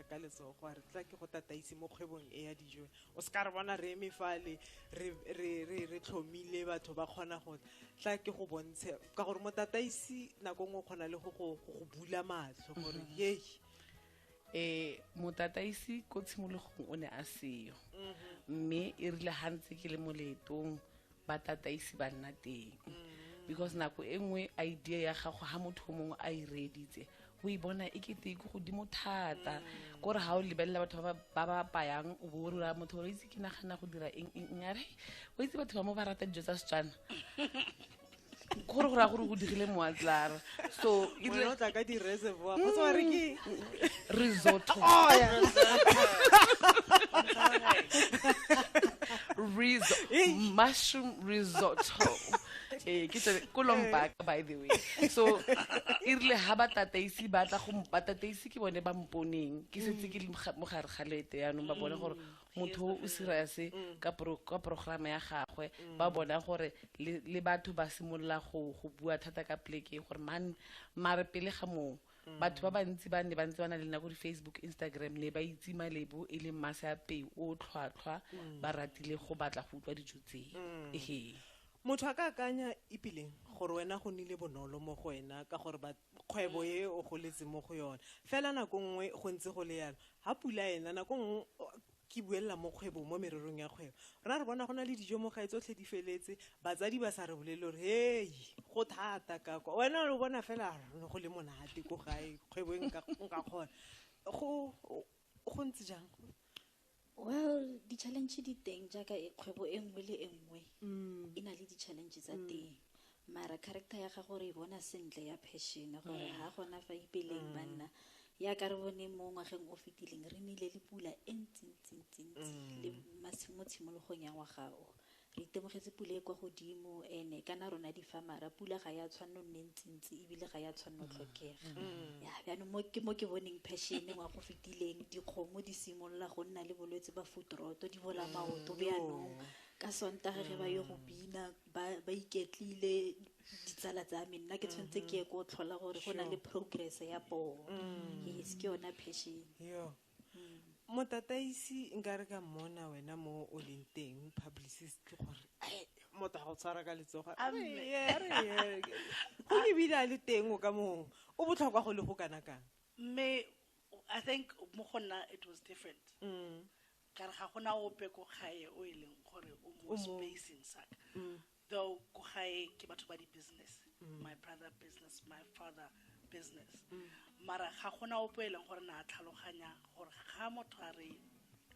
Speaker 2: ka letsogo a re tla ke go tataise mo kgwebong e ya dijo o se ka re bona re eme fale re tlhomile batho ba kgona go tla ke go bontshe ka gore motataisi nako nngwe o kgona le go go bula matlho gore mm-hmm. yei um eh, motataisi
Speaker 9: ko tshimologong o ne a seyo mm-hmm. mme e rile gantse ke le moleetong ba tataisi ba nna teng mm. because nako e nngwe idea ya gago ga motho o mongwe a e reeditse o e bona e kete ke godimo thata mm. kore ga o lebelela batho ba ba payang o bo o rura motho gore itse ke nagana go dira eng eng a re o itse batho ba mo ba rata dijo tsa setswana gore go raya gore go digile moatlara so e Moya o tla ka
Speaker 2: di-reservoir kgotsa wa re ke risotto
Speaker 9: riso mushroom risotto ee ke tsone ko lombaka by the way so e rile ga batataisi ba tla go batataisi ke bone ba mponeng ke setse ke le moga- mo gare ga lete yaanong ba bone gore motho o serious mm. ka programa ya gagwe mm. ba bona gore le batho ba simolola go bua thata ka pleke gore man mare pele ga moo mm. batho ba bantsi ba ne ba ntse ba na le nako di-facebook instagram ne ba itse malebo e leng mase a peo o tlhwatlhwa ba ratile go batla go utlwa dijo tsee ehe
Speaker 2: motho a ka akanya epileng gore wena go nile bonolo mo go wena ka gore kgwebo e o goletse mo go yone fela nako nngwe go ntse go le yalo ga pula ena nako nngwe ke buelela mo kgwebo mo mererong ya kgwebo ra re bona go na le dijo mo gae tsotlhe di feletse batsadi ba sa re bolele gore hei go thata ka kwa wena o bona fela ne go le monate ko gae kgwebo e nka kgona go ntse jang well
Speaker 8: di-challenge di teng jaaka e kgwebo e nngwe le e nngwe mm. e na le di-challenge tsa mm. teng mara character ya gago re e bona sentle ya passion gore ga mm. gona fa ipeleng banna ya ka re bone mo ngwageng o fetileng re nile le pula e ntsintsintsints le mo tshimologong ya ngwaga o Re itemogetse pula e kwa godimo ene kana rona difamara pula ga ya tshwanno nne ntsintsi ebile ga ya tshwanno tlhokega ya bjanong mo ke mo ke boneng passion wa go fetileng dikgomo di simolola go nna le bolwetse ba footroto di bola maoto bjanong ka sontage ge ba yo go bina ba ba iketlile ditsala tsa me nna ke tshwanetse ke ye ko tlhola gore go na le progress ya poo yes ke yona passion Yo.
Speaker 2: motataisi nka re ka mmona wena mo o leng teng publicist ke gore ai, motho a go tshwara ka letsoga A re mme. ye, a re ye. go ebile a le teng o ka mong o botlhokwa go le go kana kang mme
Speaker 11: i think mo go nna it was different Mm. ka re ga gona ope ko gae o e leng gore o mo O mo- spacing saka Mm. though ko gae ke batho ba di-business mm. my brother business my father business mm. mara ga gona opo e leng gore na tlhaloganya gore ga motho a re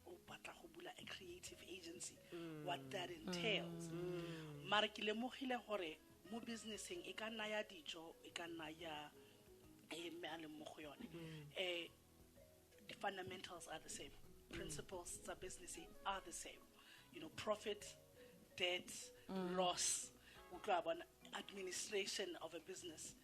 Speaker 11: o batla go bula a creative agency mm. what that entails mm. mara ke lemogile gore mo businesseng e ka nna ya dijo e ka nna ya e mme a leng mo go yone um The fundamentals are the same. Mm. Principles mm. tsa business are the same. You know, profit, debt, mm. loss, administration of a business.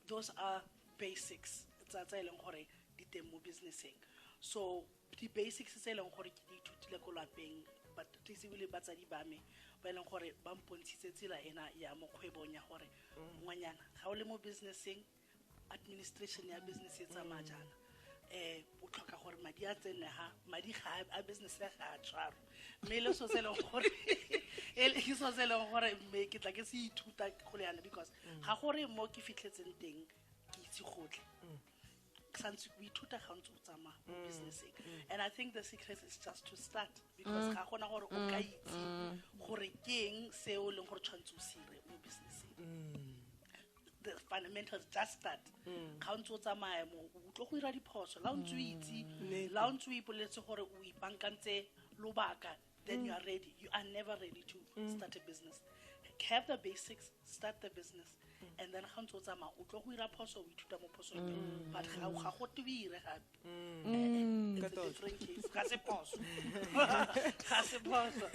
Speaker 11: Those are basics. Tsa tsa eleng gore di teng mo businesseng. So the basics tse eleng gore ke di ithutile ko lapeng but tlisebile batsadi ba me ba e leng gore ba mpontshitse tsela ena ya mo kgwebong ya gore mm. ngwanyana ga o le mo businesseng administration ya business e tsamaya jaana eh o tlhoka gore madi a tsene ha madi ga a business ya ga a tshwaro mme le so se e leng gore e le so se e leng gore mme ke tla ke se ithuta go le yana because mm. ga gore mo ke fitlhetseng teng ke itse gotlhe mm. santse o ithuta ga ntse o tsamaya mo mm. businesseng and i think the secret is just to start because ga gona gore o ka itse gore ke eng se o e leng gore tshwanetse o se ire mo businesseng the fundamentals just that mm. ga o ntse o tsamaya mo o tlo go dira diphoso la o ntse o mm. itse la o ntse o ipoletse gore o ipankantse lobaka then you are ready you are never ready to start a business have the basics start the business and then ga ntse o tsamaya o tlo go dira phoso o ithuta mo phosong but ga go tebire gape Mm. Cut out. Different case. Kasi posso. Kasi posso.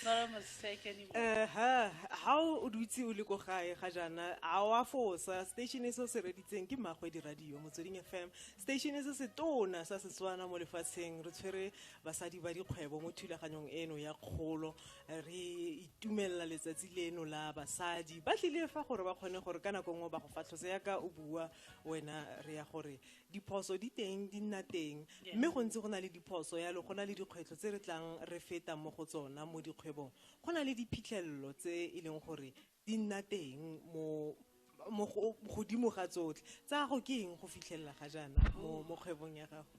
Speaker 11: Not a mistake anymore. Uh -huh. How
Speaker 2: o dutse o le ko gae ga jana a wa fosa station e se se reditseng ke magwe di radio motsweding FM station e se se tona sa Setswana mo lefatsheng re tshwere basadi ba dikgwebo mo thulaganyong eno ya kgolo re itumelela letsatsi leno la basadi ba tlile fa gore ba kgone gore ka nako nngwe ba go fatlhose yaka o bua wena re ya gore diphoso di teng di nna teng mme go ntse go na le diphoso yalo go na le dikgwetlho tse re tlang re feta mo go tsona mo dikgwebong go na le diphitlhelelo tse e leng gore di nna teng mo mo godimo ga tsotlhe tsa gago ke eng go fitlhelela ga jaana mo kgwebong ya gago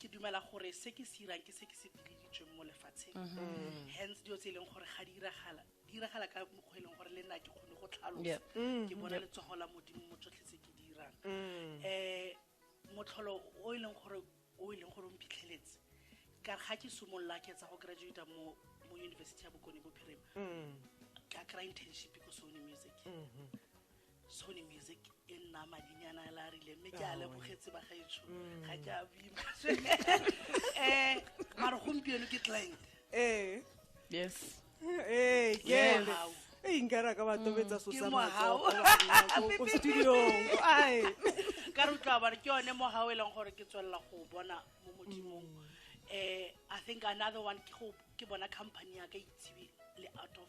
Speaker 11: ke dumela gore se ke se irang ke se ke se bileditsweng mo lefatsheng mm-hmm. hence dilo tse e leng gore ga di iragala di iragala ka mokgwa e leng gore le nna ke kgone go tlhalosa mm-hmm. ke bona letsogo la modimo mo tsotlhe tse ke di irang um motlholo o e leng gore o e leng gore o mphitlheletse ka ga ke simolola ke etsa go graduata mo mo university ya bokone bophirima ka kry internship ko sone music sony music e nna madinyana a la rile mme ke a lebogetse ba gaetsho ga ke a bima um mare gompieno ke client ee
Speaker 9: yes ee kele
Speaker 2: Wow. ee nkare a ka ba tobetsa so Ke sa mohau. matsogo ko studiong ae ka re utlwa
Speaker 11: bare ke yone mo gao e leng gore ke tswelela go bona mo modimong um i think another one ke go ke bona company ya ka itshebe le out of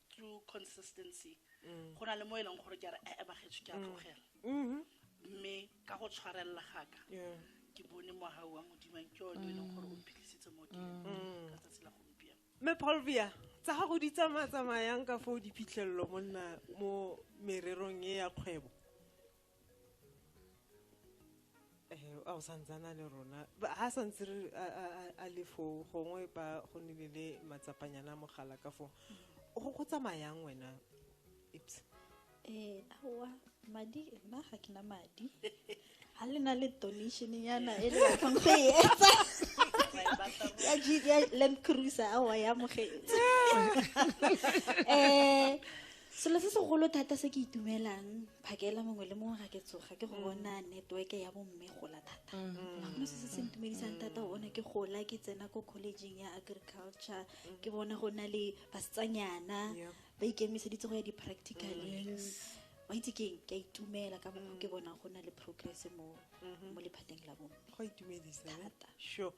Speaker 11: through consistency mm. go na le mo e leng gore ke a re e eh, eh, bagetso ke a mm. tlogela mm-hmm. mme ka go tshwarelela gaka ke bone moga wa modimang ke one e leng gore o mphitlhisitse mo ke mm. ka tsatsi la gompieno mme polvia
Speaker 2: tsa gago di tsamaya tsamayang ka foo diphitlhelelo monna mo mererong e ya kgwebo eh, a o santsana le rona ga sa ntse re a le foo gongwe ba go nile le matsapanyana mogala ka foo go tsamayang wena ips eh
Speaker 8: awa madi nna ga ke na madi ga le na le donation yana e le batlang go e etsa ya g ya land cruiser awa ya mogetse um eh, selo se segolo thata se ke itumelang phakela mongwe le mongwe ga ke tsoga ke go mm. bona networke ya bomme gola thata mm. mo se se se ntumedisang thata go bona ke gola ke tsena ko collegeng ya agriculture mm. ke bona go na le basetsanyana ba ikemiseditse go ya di-practicaleng wa itse keng ke a itumela ka mongwe ke bona go na le progress mo mm-hmm. lephateng la bomme go itumedisa eh?
Speaker 2: thata sure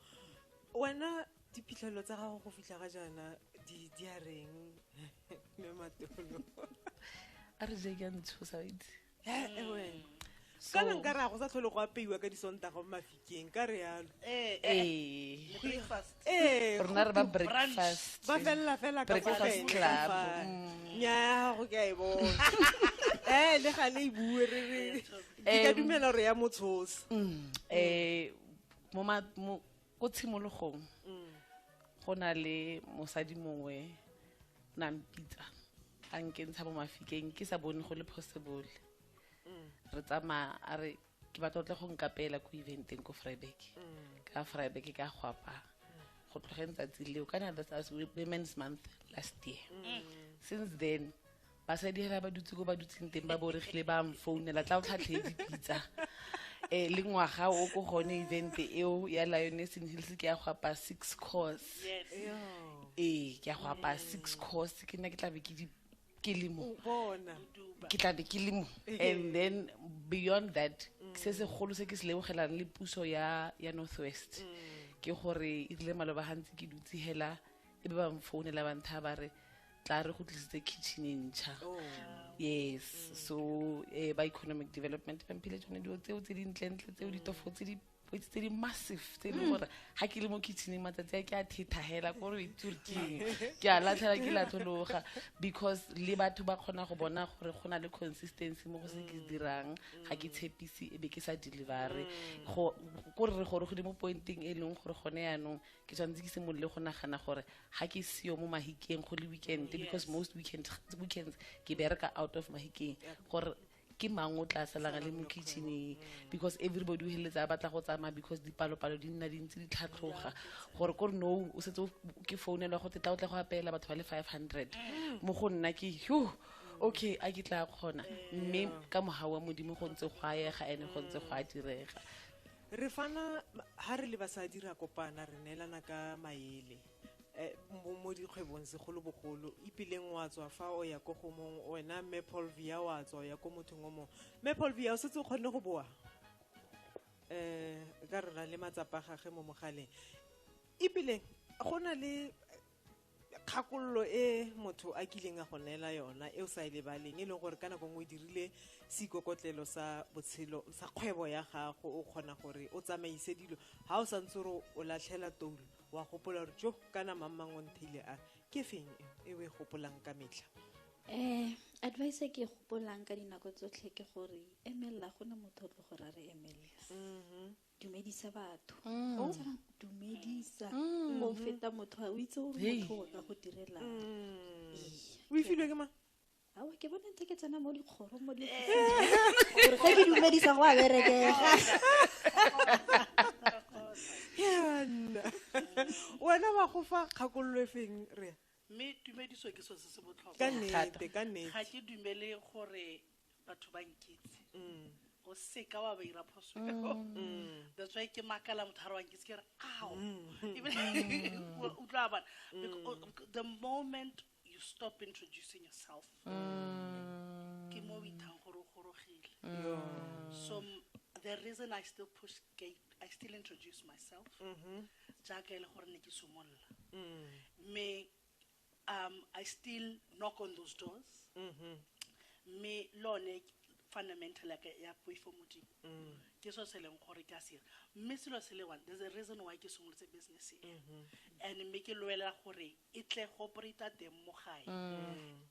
Speaker 2: wena diphitlhelelo tsa gago go fitlha ga jaana di a reng
Speaker 9: a re je ke a ntshosa wa itse
Speaker 2: kana nka re a go sa tlhole go apeiwa ka disontaga mo mafikeng ka re yalo Eh, eh, ee le breakfast.
Speaker 9: ee rona re ba Brunch. breakfast ba felela fela ka
Speaker 2: Breakfast fale, ka club, fale.
Speaker 9: mm. nyaa
Speaker 2: go ke a e bona ee le ga le e bue re re ke ka Em. dumela gore ya motshosa um mo
Speaker 9: ma- mo- ko tshimologong mm. go na le mosadi mongwe na mpitsa a nkentsha mo mafikeng ke sa bone go le possible mm. re tsamaya a re ke batla tle go nkapela ko eventeng ko fryback mm. ka fryback ka go apaya go tlogeng tsatsi leo kana that's women's month last year since then basadi ga ba dutse ko ba dutseng teng ba boregile ba mfounela tla o tlhatlhe dipitsa um le ngwaga o ko gone event eo ya lionesing hills ke ya go apa six course ee ke ya go apa six course ke nna ke tlabe ke di ke le mo ke tlabe ke le mo and then beyond that se segolo se ke se lebogelang le puso ya ya north west ke gore e rile maloba gantsi ke dutse hela e be ba mfounela bantha ba re tla re go tlisitse kitchen e ntšha oh. yes so eh, ba economic development ba mphile tsone dilo tseo tse dintlentle tseo ditofo tse di poitse tse di massive tse e leng hmm. gore ga ke le mo kitcheneng matsatsi a ke a thethagela ko re turking ke a latlhela ke latlhologa because le batho ba kgona go bona gore go na le consistency mo go se ke hmm. dirang ga ke tshepise e be ke sa delivere hmm. ko re gore go di mo pointeng e leng gore gone yaanong ke tshwanetse ke simolole go nagana gore ga ke seo mo mahikeng go le weekend because most weekends weekends ke bereka out of mahikeng gore ke mang o tla salanga le mo kitcheneng because everybody o heletsa a batla go tsamaya because dipalopalo di nna dintsi di tlhatlhoga gore kore no o setse ke founelwa go tetla o tla go apeela batho ba le five hundred mm. mo go nna ke hugh okay a ke tla kgona mme ka moga wa modimo go ntse go a yega ene go ntse go a direga re fana
Speaker 2: ha re le basadi ra kopana re neelana ka maele eh, mo dikgwebong segolobogolo ipileng wa tswa fa o ya ko gomong wena mme paul via wa tswa o ya ko mothong o mongwe mme paul via o setse o kgonne go boa um ka rona le matsapa gage mo mogaleng ipileng go na le kgakololo e motho a kileng a go neela yona e o sa e lebaleng e leng gore ka nako nngwe o dirile seikokotlelo sa botshelo sa kgwebo ya gago o kgona gore o tsamaise dilo ga o santse gore o latlhela toulo wa gopola gore jo kana mammang o ntheile a ke feng e o e gopolang ka metlha um
Speaker 8: advice e ke e gopolang ka dinako tsotlhe ke gore emelela go ne motho o tlo go ra re emelela mm-hmm. dumedisa batho mm. ga o tshwana dumedisa go mm. mm. feta motho ga o itse gore motho o ka go direla
Speaker 2: o e filwe ke ma awa ke bona
Speaker 8: ntse ke tsena mo dikgoro mo di eh. gore ga ke dumedisa go a berekega
Speaker 2: yana wena wa go fa kgakololo e feng re mme tumediso
Speaker 11: ke so se se botlhokwa ka nnete ka nnete
Speaker 2: ga ke dumele
Speaker 11: gore batho ba nkitse o seka wa ba ira phoso eo. that's why ke makala motho ga re wa nkitse ke re ao Ebile- o utlwa bana Bec- o- o- the moment you stop introducing yourself ke mo o ithang gore o gorogile so m- the reason i still push gate i still introduce myself jaaka e le gore ne ke somolola mme um i still knock on those doors mm-hmm. mme mm -hmm. lone fundamental ya ya poifo modimo mm. ke so se leng gore ke a sira mme selo se le one there's a reason why ke simolotse business e mm-hmm. and mme ke lwelela gore e tle go operata teng mo gae um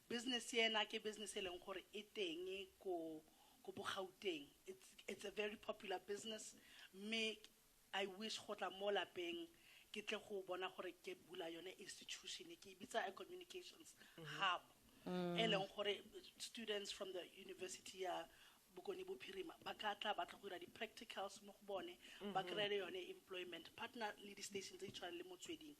Speaker 11: business ena ke business e leng gore e teng ko ko bogauteng it's a very popular business mme I wish go tla mo lapeng ke tle go bona gore ke bula yone institution ke e bitsa a communications hub e leng gore students from the university ya bokone bophirima ba ka tla ba tla go dira di-practicals mo go bone ba kry-e le yone employment partner le di-station tse di tshwanang le motsweding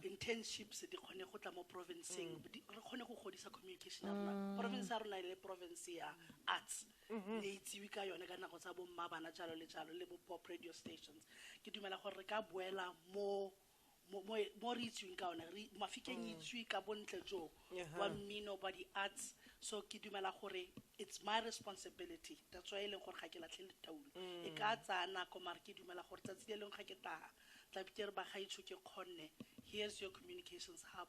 Speaker 11: internships di kgone go tla mo provinceng di- re kgone go godisa communication ya rona province ya rona e le province ya arts mm-hmm. ne itsewe ka yone ka nako tsa bomma bana jalo le jalo le bo-pop radio stations ke dumela gore re ka boela mo mo re itsweng ka one mafikeng mm. itswe ka bontle joo wa mmino ba di-arts so ke dumela gore it's my responsibility that's why e leng gore ga ke latlhe letaulo mm. e ka tsaya nako mare ke dumela gore tsatsi le leng ga ke taga tlabikere ba gaitsho ke kgonne here's your communications hub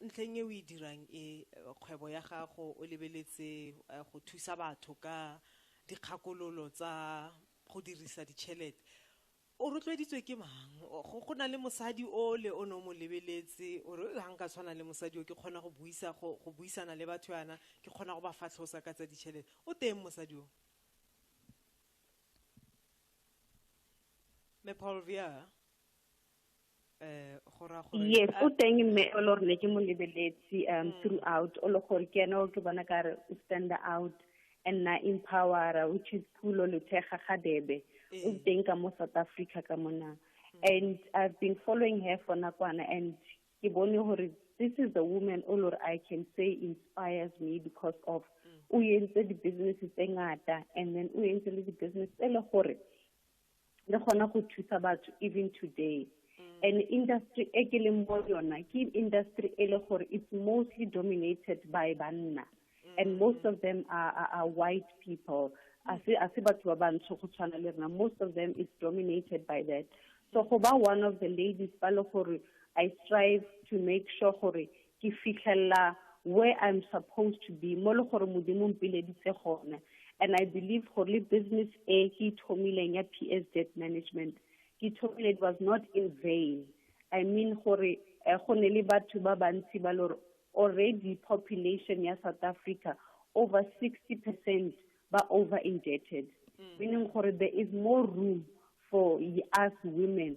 Speaker 2: Ntlheng e o e dirang e, kgwebo ya gago o lebeletse go thusa batho ka dikgakololo tsa go dirisa ditšhelete. O rotloeditswe ke mang? Go na le mosadi ole o ne o mo lebeletse o re, ha nka tshwana le mosadi o, ke kgona go buisa, go buisana le batho yana, ke kgona go ba fatlhosa ka tsa ditšhelete. O teng mosadi o? Mme Paul Via, Eh,
Speaker 10: yes o teng mme o le ne ke mo lebeletse um mm. throughout o le gore ke ene o ke bona ka re o stand out and na empower which is phulo lethega ga debe o mm. teng ka mo south africa ka mona mm. and i've been following her for nakwana and ke bone gore this is the woman o lore i can say inspires me because of o entse di-businesses tse ngata and then o entse le di-business tse le gore le gona go thusa batho even today mm. and industry e ke leng mo yona ke industry e le gore it's mostly dominated by banna mm. and most of them are, are, are white people a se batho ba bantsho go tshwana le rena most of them is dominated by that so go ba one of the ladies ba le gore i strive to make sure gore ke fitlhelela where i'm supposed to be mo le gore modimo mpileditse gone and i believe gore le business e ke ithomileng ya p s debt management ke ithomile it was not in vain i mean gore eh, go ne le batho ba bantsi ba lore already population ya south africa over 60 percent ba over indebted mm. meaning gore there is more room for us women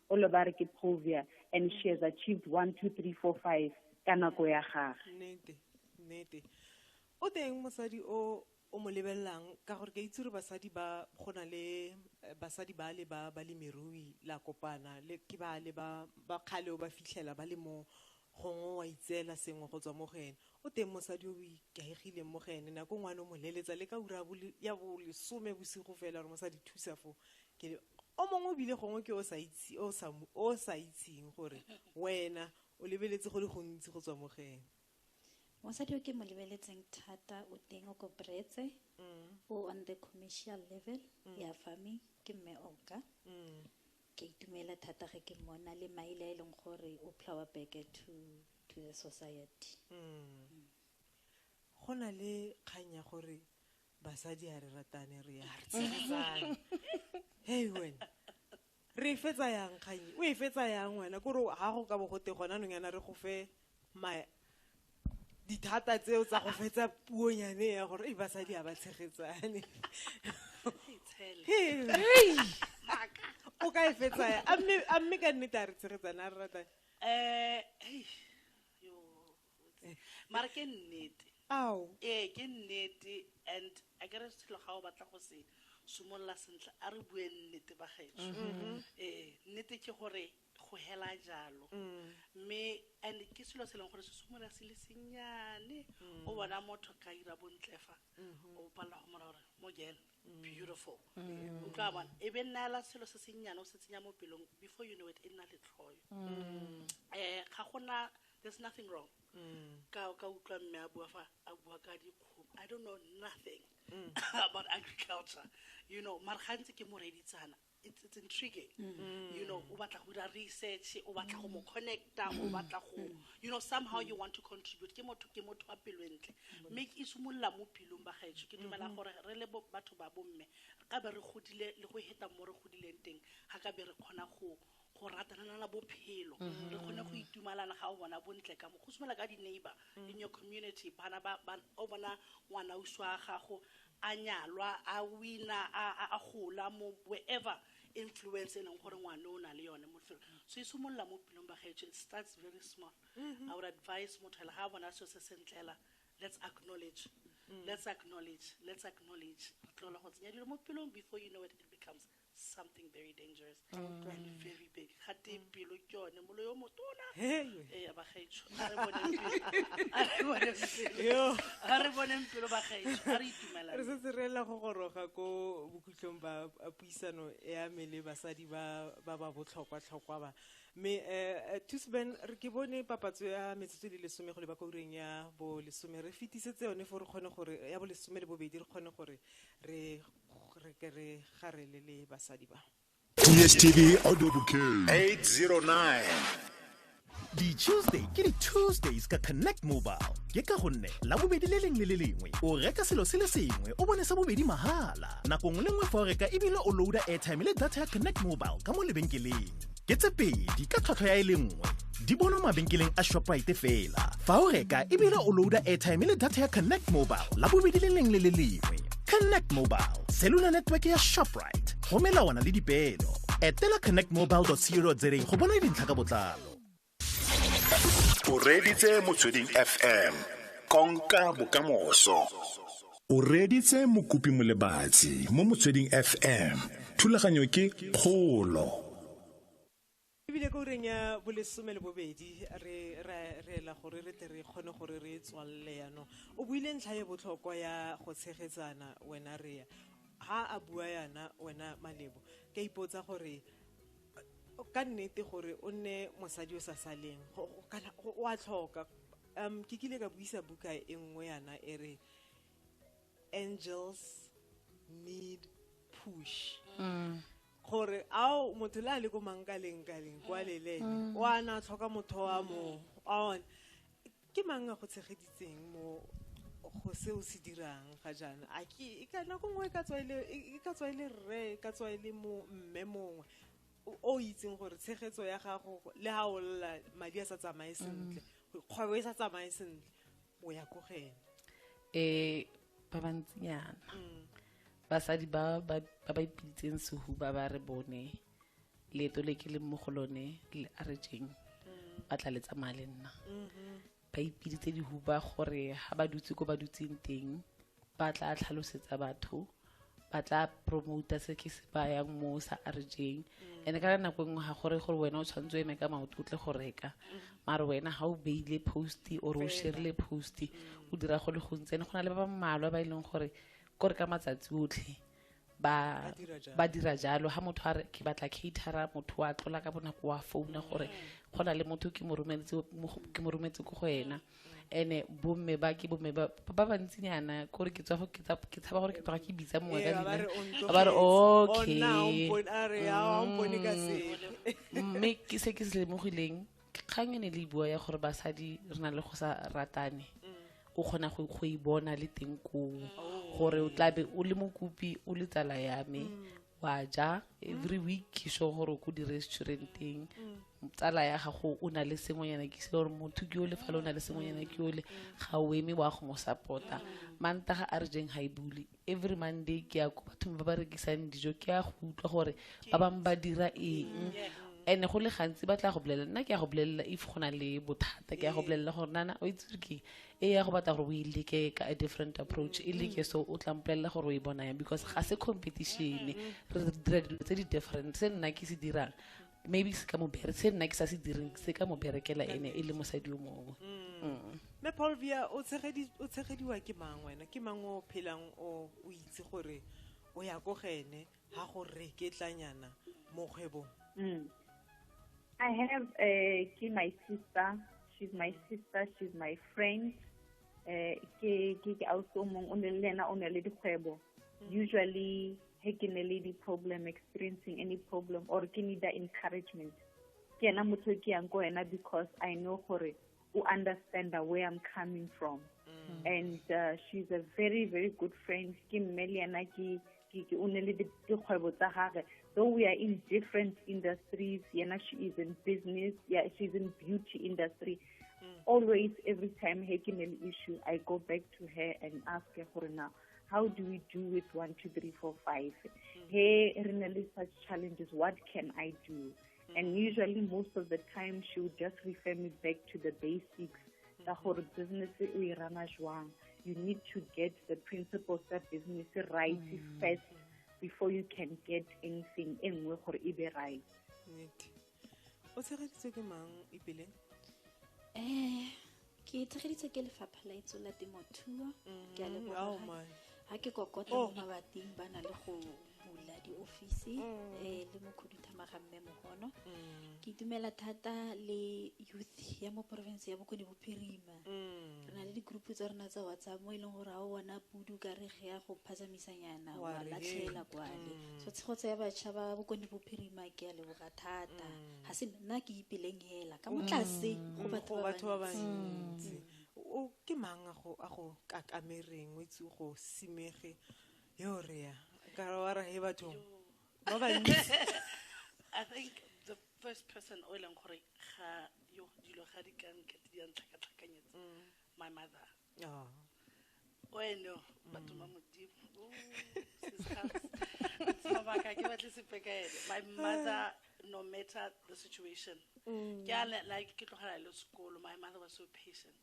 Speaker 10: o le ba re ke povia and she has achieved one two three four five ka nako ya gage nnete nnete
Speaker 2: o teng mosadi o o mo lebelelang ka gore ke itse gore basadi ba go na le eh, basadi ba le ba balemirui la kopana le ke ba le ba ba kgale o ba fitlhela ba le mo Gongwe wa itseela sengwe go tswa mo go ene. O teng mosadi yo o ikaegileng mo go ene. Nako nngwe a no mo leletsa le ka ura ya bolesome bosigo fela gore mosadi thusa fo. O mongwe ebile gongwe ke o sa itseng gore wena o lebeletse go le gontsi go tswa mo go ene.
Speaker 8: Mosadi yo ke mo lebeletseng thata o teng o ko Bretse, o on the commercial level ya farming ke Mme Oka. Ka itumela thata ge ke mmona le Maile a e leng gore o plower back to to the society.
Speaker 2: Go na le kgang ya gore basadi ha re ratane re ya re tshegetsane. Hey wena. Re e fetsa yang kgang e? O e fetsa yang wena? Kore ha go ka bo go te gona nong yana re go fe dithata tseo tsa go fetsa puo nyane ya gore e basadi a ba tshegetsane o ka e fetsaya a mme ka nnete a re tshegetsane a re rata um
Speaker 11: mara ke nnete ao ee
Speaker 2: ke nnete
Speaker 11: and a kere selo ga o batla go se simolola sentle a re bue nnete ba gaetso mm-hmm. ee nnete ke gore um go hela jalo mme and ke selo se e leng gore se simolola se le sennyane o bona motho ka ira bontle fa o palela go mora gore mo girl beautiful o tla bona e be nnaela selo se sennyane o se tsenya mo pelong before you know it e nna letlhoyo um ga gona there's nothing wrong ka ka utlwa mme a bua fa a bua ka dikgomo i don't know nothing about agriculture you know mara gantsi ke mo reditsana it's, it's intriguing mm. you know o batla go dira research o batla go mo mm. connecta o mm. batla go mm. you know somehow you want to contribute ke motho ke motho wa pelo entle mme e simolola mo pilong ba gaetsho ke dumela mm-hmm. gore re le batho ba bomme ka be re godile le go heta mo re godileng teng ga ka be re kgona go go ratanana la bophelo mm-hmm. re kgone go itumalana ga o bona bontle ka mo go simela ka di-neighbor mm. in your community bana o bona ngwana uso wa gago a nyalwa a wina a gola mo wherever influence e leng gore ngwane o na le yone mo lefelo mm. so e simolola mo pelong ba gaetsho it starts very small mm-hmm. our advice motho ele ga a bona seo se sentlela let's acknowledge mm. let's acknowledge let's acknowledge re tlola go tsenya dilo mo pelong before you know it, it becomes something very dangerous and very big ga te pelo ke yone molo yo motona ee ba gaetsho a re boneng pelo a re boneng pelo a re boneng pelo ba gaetsho a re itumelang re setse re ela go
Speaker 2: goroga ko bokhutlong ba puisano ya me le basadi ba ba ba botlhokwa-tlhokwa ba mme um tusben re ke bone papatso ya metsotso le lesome go le ba koureng ya bolesome re fetisetse yone fo re kgone gore ya bolesome le bobedi re kgone gore re re ke re ga re le le basadi ba dstv
Speaker 3: audio bouquet 809
Speaker 12: di-tuesday ke di-tuesdays ka connect mobile ke ka gonne la bobedi le lengwe le le lengwe o reka selo se le sengwe o bone sa bobedi mahala nako nngwe le nngwe fa o reka ebile o loada airtime le data ya connect mobile ka mo lebenkeleng ke tse pedi ka tlhwatlhwa ya e le nngwe di bonwa mabenkeleng a shoprite fela fa o reka ebile o loada airtime le data ya connect mobile la bobedi le leng le le lengwe connect mobile cellular network ya shoprite go melawana le dipeelo etela connectmobile co za go bona dintlha ka botlalo
Speaker 3: o reditse motsweding fm konka bokamoso o reditse mokopi molebatsi mo motsweding fm thulaganyo ke kgolo
Speaker 2: ebile ko ureng ya bolesome le bobedi re reela gore re tle re kgone gore re tswalele yanong o buile ntlha e botlhokwa ya go tshegetsana wena rea ha a bua yana wena malebo ka ipotsa gore ka nnete gore o nne mosadi o sa saleng kana o a tlhoka um ke kile ka buisa buka e nngwe yana e re angels need push mm. gore ao motho le a le ko mankalengkaleng kwa mm. lelele mm. o ana tlhoka motho wa mo on ke mang a go tshegeditseng mo go se o se dirang ga jaana a ke e ka nako nngwe e ka tswa e le e ka tswa e le rre e ka tswa e le mo mme mongwe o- o itseng gore tshegetso ya gago le ga o lla madi a sa tsamaye sentle kgwebo e sa tsamaye sentle o ya ko go ene eh
Speaker 9: ba bantsinyana basadi ba ba ba ba ipitseng sehuba ba re bone leeto le ke le mo go lone le aretseng mm. ba tla le tsamaya le nna mm-hmm. ba ipiditse dihuba gore ga ba dutse ko ba dutseng teng ba tla tlhalosetsa batho ba tla promota se ke se bayang mo sa aretseng mm. and-e ka nako nngwe ga gore gore wena o tshwanetse o eme ka maoto o tle go reka mm. mare wena ga o beile posti or o sherile posti o dira go le gontsi ene go na le ba ba mmalwa ba e leng gore kore ka matsatsi otlhe ba ba dira jalo ha motho a re ke batla caterer motho wa tlola ka bonako wa founa gore go na le motho ke mo rometse ke mo rometse ko go ena ene bomme ba ke bomme ba ba bantsinyana kore ke tswa go ke tsa ke tshaba gore ke tloga ke bitsa mongwe ka dina ba re okay mme ke se ke se lemogileng kgang e ne le bua ya gore basadi re na le go sa ratane o kgona go go e bona le teng koo gore o tlabe o le mokopi o le tsala ya me wa ja every week ke sure gore o ko di-restauranteng tsala ya gago o na le sengwenyana ke se gore motho ke ole fa le o na le sengwenyana ke ole ga o eme wa go mo support-a mantaga a re jeng ga e bule every monday ke ya ko bathong ba ba rekisang dijo ke ya go utlwa gore ba bangwe ba dira eng and go le gantsi ba tla go bolelela nna ke ya go bolelela if go na le bothata ke ya go bolelela gore nana o itse gore ke e ya go batla gore o e leke ka a different approach e leke so o tla mpolelela gore o e bona yang because ga se competition re dira dilo tse di different se nna ke se dirang maybe se ka mo bere se nna ke sa se direng se ka mo berekela ene e le mosadi o mongwe mm. mm. mme
Speaker 2: paulvia o tshegediwa ke mang wena ke mang o phelang o o itse gore o ya ko gene ga go reketlanyana mo kgwebong mm.
Speaker 10: i have uh, ke my sister she's my sister she's my friend um ke ke ausi o mongwe o ne le ena o ne le dikgwebo usually he ke ne le di-problem experiencing any problem or ke need encouragement ke ena motho ke yang ko ena because i know gore o understand where i'm coming from mm. and uh, she's a very very good friend ke mme le ena ke ke o ne le dikgwebo tsa gage though we are in different industries yena she is in business yeah she's in beauty industry mm. always every time he ke ne le issue i go back to her and ask her gore now how do we do with one two three four five mm. hey re na le such challenges what can i do mm. and usually most of the time she would just refer me back to the basics ka mm. gore business e o e rana jwang you need to get the principles tsa business right first before you can get anything e nngwe gore e be right
Speaker 2: o tshegeditswe ke mang ipeleng um
Speaker 8: ke tshegeditswe ke lefapha la itso la temothuo ke a mm-hmm. oh, leboga ga ke kokota oh. mo mabating ba na le go bula diofisi um le mokhuduthamaga mme mogono mm. ke itumela thata le youth ya mo porofense ya bokone bophirima re na le di-group tsa rona tsa whatsapp mo e leng gore ga o bona pudu ka re ge ya go phatsamisanyana wa latlhela kwale so tshegetso ya batšha ba bokone bophirima ke a leboga thata ga se nna ke ipeleng hela ka motlase go batho ba bantsi o ke
Speaker 2: mang a go a go kakamereng o itse go simege yo re ya ka wa ra he batho ba bantsi i
Speaker 11: think the first person o e leng gore ga yo dilo ga di ka nkete di a ntlhakatlhakanyetsa mm. my mother oh. o eno batho ba mm. modimo sebaka ke batle sepe ka ene my mother no matter the situation mm. ke a like ke tlogela le sekolo my mother was so patient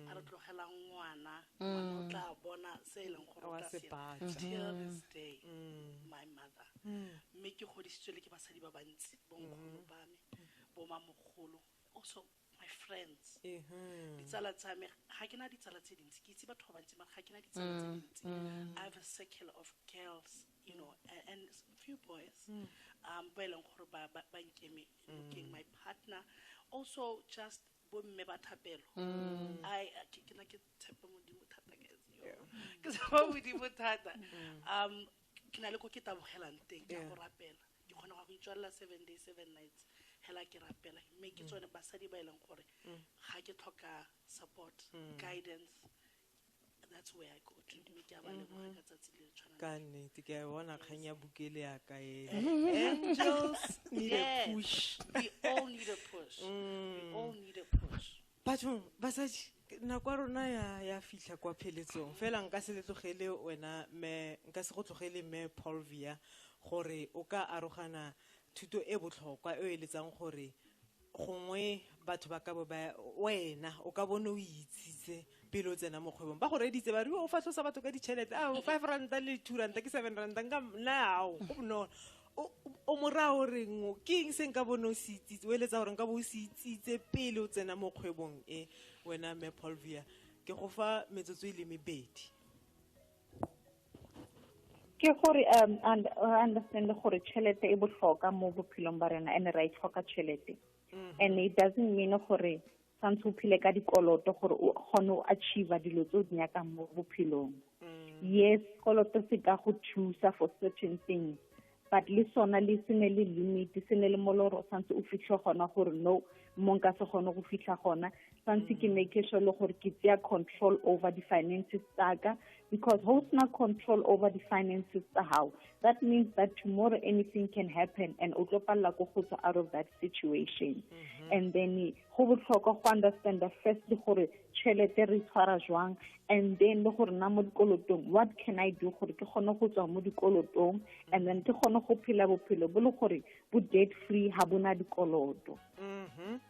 Speaker 11: a re tlogelang ngwana ngwana o tla bona se e leng gore o Wa tla se se batla. till this day my mother mme ke godisitswe le ke basadi ba bantsi bonkgolo ba me bomamogolo also my friends Ehe. ditsala tsa me ga ke na ditsala tse dintsi ke itse batho ba bantsi mara ga ke na ditsala tse dintsi i have a circle of girls you know a- and s- few boys um ba e leng gore ba ba- ba nkeme looking my partner also just bomme ba thapelo mm. ai ke na ke tshepa modimo thata ke tshepa modimo thata mm. um ke na le ko ke tabogelang teng ke go rapela ke kgona go itswalela seven day seven nights hela ke rapela mme ke mm. tsone basadi ba e leng gore ga ke tlhoka support guidance ka nnete ke a e
Speaker 2: bona kgang ya bukele ya ka bathong basadi nako ya rona ya fitlha kwa pheletsong fela nka se letlogele wena me nka se go tlogele me polvia gore o ka arogana thuto e botlhokwa e o e letsang gore gongwe batho ba ka bo ba wena o ka bone o itsitse pele o tsena mo kgwebong ba go reditse ba re o fatlhosa batho ka ditšhelete a five ranta le two ranta ke seven ranta nka nao go bonolo o mora o reng ke eng se nka bone o se itsitse o eletsa gore nka bo o se itsitse pele o tsena mo kgwebong e wena me polvia ke go fa metsotso e le mebedi
Speaker 10: ke gore um understand gore tšhelete e botlhoka mo bophelong ba rena and ra e tlhoka tšhelete mm-hmm. and it doesn't mean gore tshwanetse o phile ka dikoloto gore o kgone o achieve dilo tse o di nyakang mo bophelong mm. yes koloto se ka go thusa for certain things but le sona le se ne le limit se ne le moloro santse o fitlhe gona gore no mo nka se gone go fitlha gona santse ke make sure le gore ke tsaya control over the finances tsaka because ho sena control over the finances tsa gago that means that tomorrow anything can happen and o tlo palela ko go tswa out of that situation mm -hmm. and then go botlhokwa go understand the first gore tšhelete re tshwara jwang and then le gore na mo dikolotong what can i do gore ke kgone go tswa mo dikolotong and then ke kgone go phela bophelo bo le gore bo debt free ha bona dikoloto mm-hmm.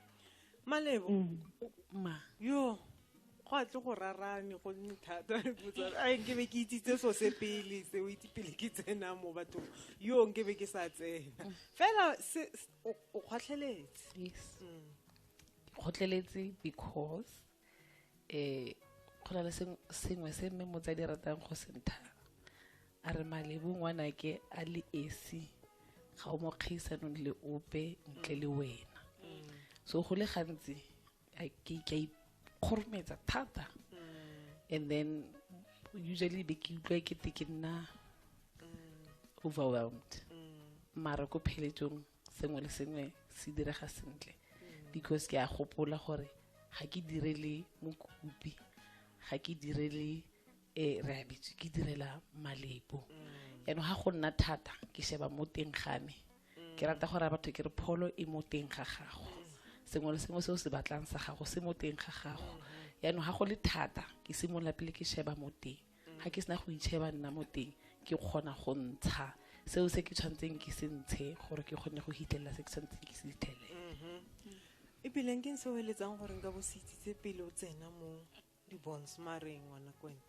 Speaker 10: malebo
Speaker 2: mm. ma yo go a tle go rarane go nne thata a nke be ke itsitse so se pele se o itse pele ke tsena mo bathong yo nke be ke sa tsena mm. fela o kgotlheletse yes
Speaker 9: mm. kgotlheletse because eh go na le sengwe se mme motsadi ratang go se ntha a re malebu ngwanake a le esi ga o mo kgaisanong le ope ntle le wena so go le gantsi ke ka ikgorometsa thata and then usually be ke utlwa ke te ke nna overwhelmed mara ko pheletsong sengwe le sengwe se direga sentle mm. because ke a gopola gore ga ke direle mokopi ga ke direle e re abitswe ke direla malebo mm. yaanong ga go nna thata ke sheba mo teng ga me ke mm. rata gore batho ke re pholo e mo teng ga gago sengwe le sengwe se o se batlang sa gago se mo teng ga gago yaanong ga go le thata ke simolola pele ke sheba mo teng ga ke sena go itšheba nna mo teng ke kgona go ntsha seo se ke tshwanetseng ke se ntshe gore ke kgone go hitlelela se ke tshwanetseng ke se fitlhelele mm-hmm. ebileng
Speaker 2: ke se o eletsang gore nka bo se itsitse pele o tsena mo dibons mareng ngwana kwene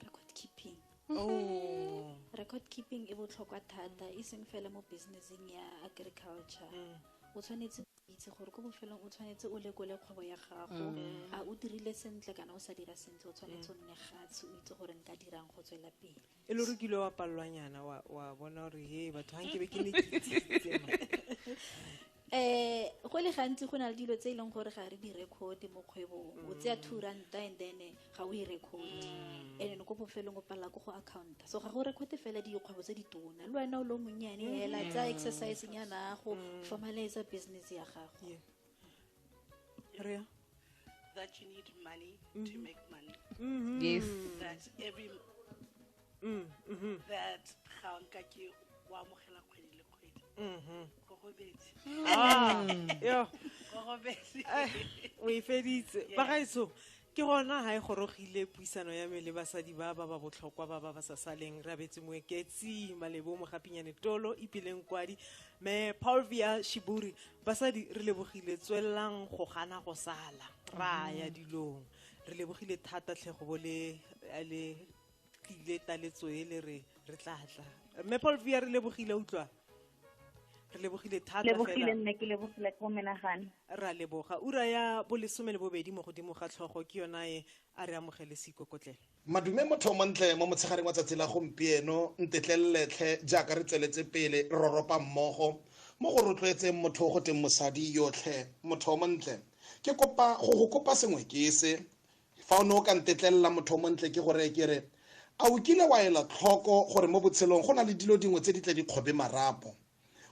Speaker 2: record
Speaker 8: keeping oh.
Speaker 2: record keeping
Speaker 8: e botlhokwa thata e seng fela mo businesseng ya agriculture mm. o tshwanetse itse gore ko bofelong o tshwanetse o lekole kgwebo ya gago mm. a o dirile sentle kana o sa dira sentle o tshwanetse o nne gatshe o itse gore nka dirang go tswela pele e le gore kile wa
Speaker 2: palelwanyana wa bona gore he batho ga nkebe ke ne eh
Speaker 8: go le gantsi go na le dilo tse e leng gore ga re di record mo kgwebong o tseya two ranta and then ga o e record mm. and ko bofelong o palela ko go accounta so ga go record fela dikgwebo tse ditona le wena o le monnyane mm. hela tsa exercise nyana go mm. formalize business ya gago yeah.
Speaker 11: that you need money mm -hmm. to mm-hmm. make money
Speaker 9: mm -hmm.
Speaker 11: yes that every mm, mm-hmm. that ga nka ke o amogela kgwedi le kgwedi
Speaker 2: mm-hmm. go gobetse ah, go gobetse eh, o e feditse bagaetso ke gona ga e gorogile puisano ya me le basadi ba ba ba botlhokwa ba ba ba sa saleng re abetse moeketsi malebo mogapinyane tolo ipileng kwadi me paulvia shiburi basadi re lebogile tswelelang go gana go sala ra ya mm-hmm. dilong re lebogile thata tlhego bo le tlile taletso e le re re tla tla mme paul via re lebogile utlwa re lebogile thata lebogile nne ke lebogile
Speaker 10: ko menagane ra leboga
Speaker 2: ura ya bolesome le bobedi mo godimo ga tlhogo ke yona e a re amogele seikokotlele madume motho
Speaker 13: montle mo motshegareng wa tsatsi la gompieno ntetleleletlhe jaaka re tsweletse pele re roropa mmogo mo go rotloetseng motho go teng mosadi yotlhe motho montle ke kopa go go kopa sengwe ke se Fa o ne o ka ntetlelela motho o montle ke gore ke re, A o kile wa ela tlhoko gore mo botshelong go na le dilo dingwe tse di tle di kgobe marapo?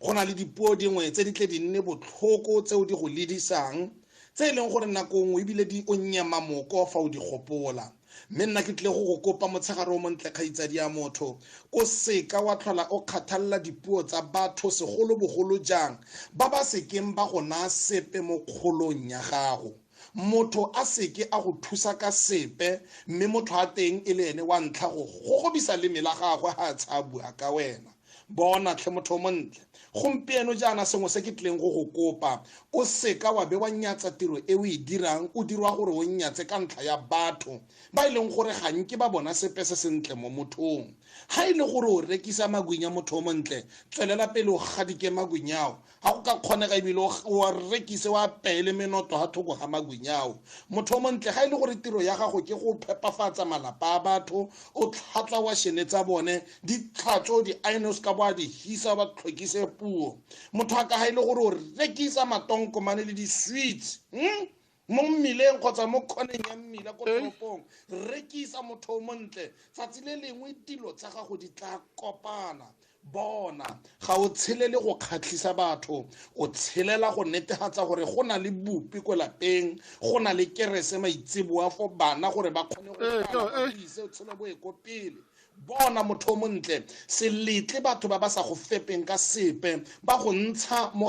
Speaker 13: Go na le dipuo dingwe tse di tle di nne botlhoko tseo di go ledisang, tse e leng gore nako nngwe ebile di o nyema moko fa o di gopola. Mme nna ke tlile go go kopa motshegare o montle kgaitsadi ya motho, o seka wa tlhola o kgathalela dipuo tsa batho segolobogolo jang ba ba sekeng ba go naya sepe mo kgolong ya gago. motho a seke a go thusa ka sepe mme motho a teng e le ene wa ntlha go gogobisa leme la gagwe ga a tshabua ka wena bona tlhe motho o montle gompieno jaana sengwe se ke tlileng go go kopa o seka wa be wa nyatsa tiro e o e dirang o dirwa gore o nyatse ka ntlha ya batho ba e leng gore ga nke ba bona sepe se sentle mo mothong ga e le gore o rekisa magwinya motho o montle tswelela pele o gadike magwinyao ga go ka kgonega ebile wa rekise wa peele menoto ga thoko ga magwinyao motho o montle ga e le gore tiro ya gago ke go phepafatsa malapa a batho o tlhatswa washene tsa bone di tlhatso di-inos ka bo a di hisa ba tlhokise puo motho a ka ga e le gore o rekisa matonkomane le di-sweets hmm? mo mmileng kgotsa mo kgoneng ya mmila ko toropong rekisa motho o montle tsatsi le lengwe dilo tsa gago di tla kopana bona ga o tshelele go kgatlhisa batho o tshelela go netefatsa gore go na le bupi ko lapeng go na le kerese maitseboa fo bana gore ba kgone go ise o tshele bo e ko pele bona motho o montle se letle batho ba ba sa go fepeng ka sepe ba go ntsha mo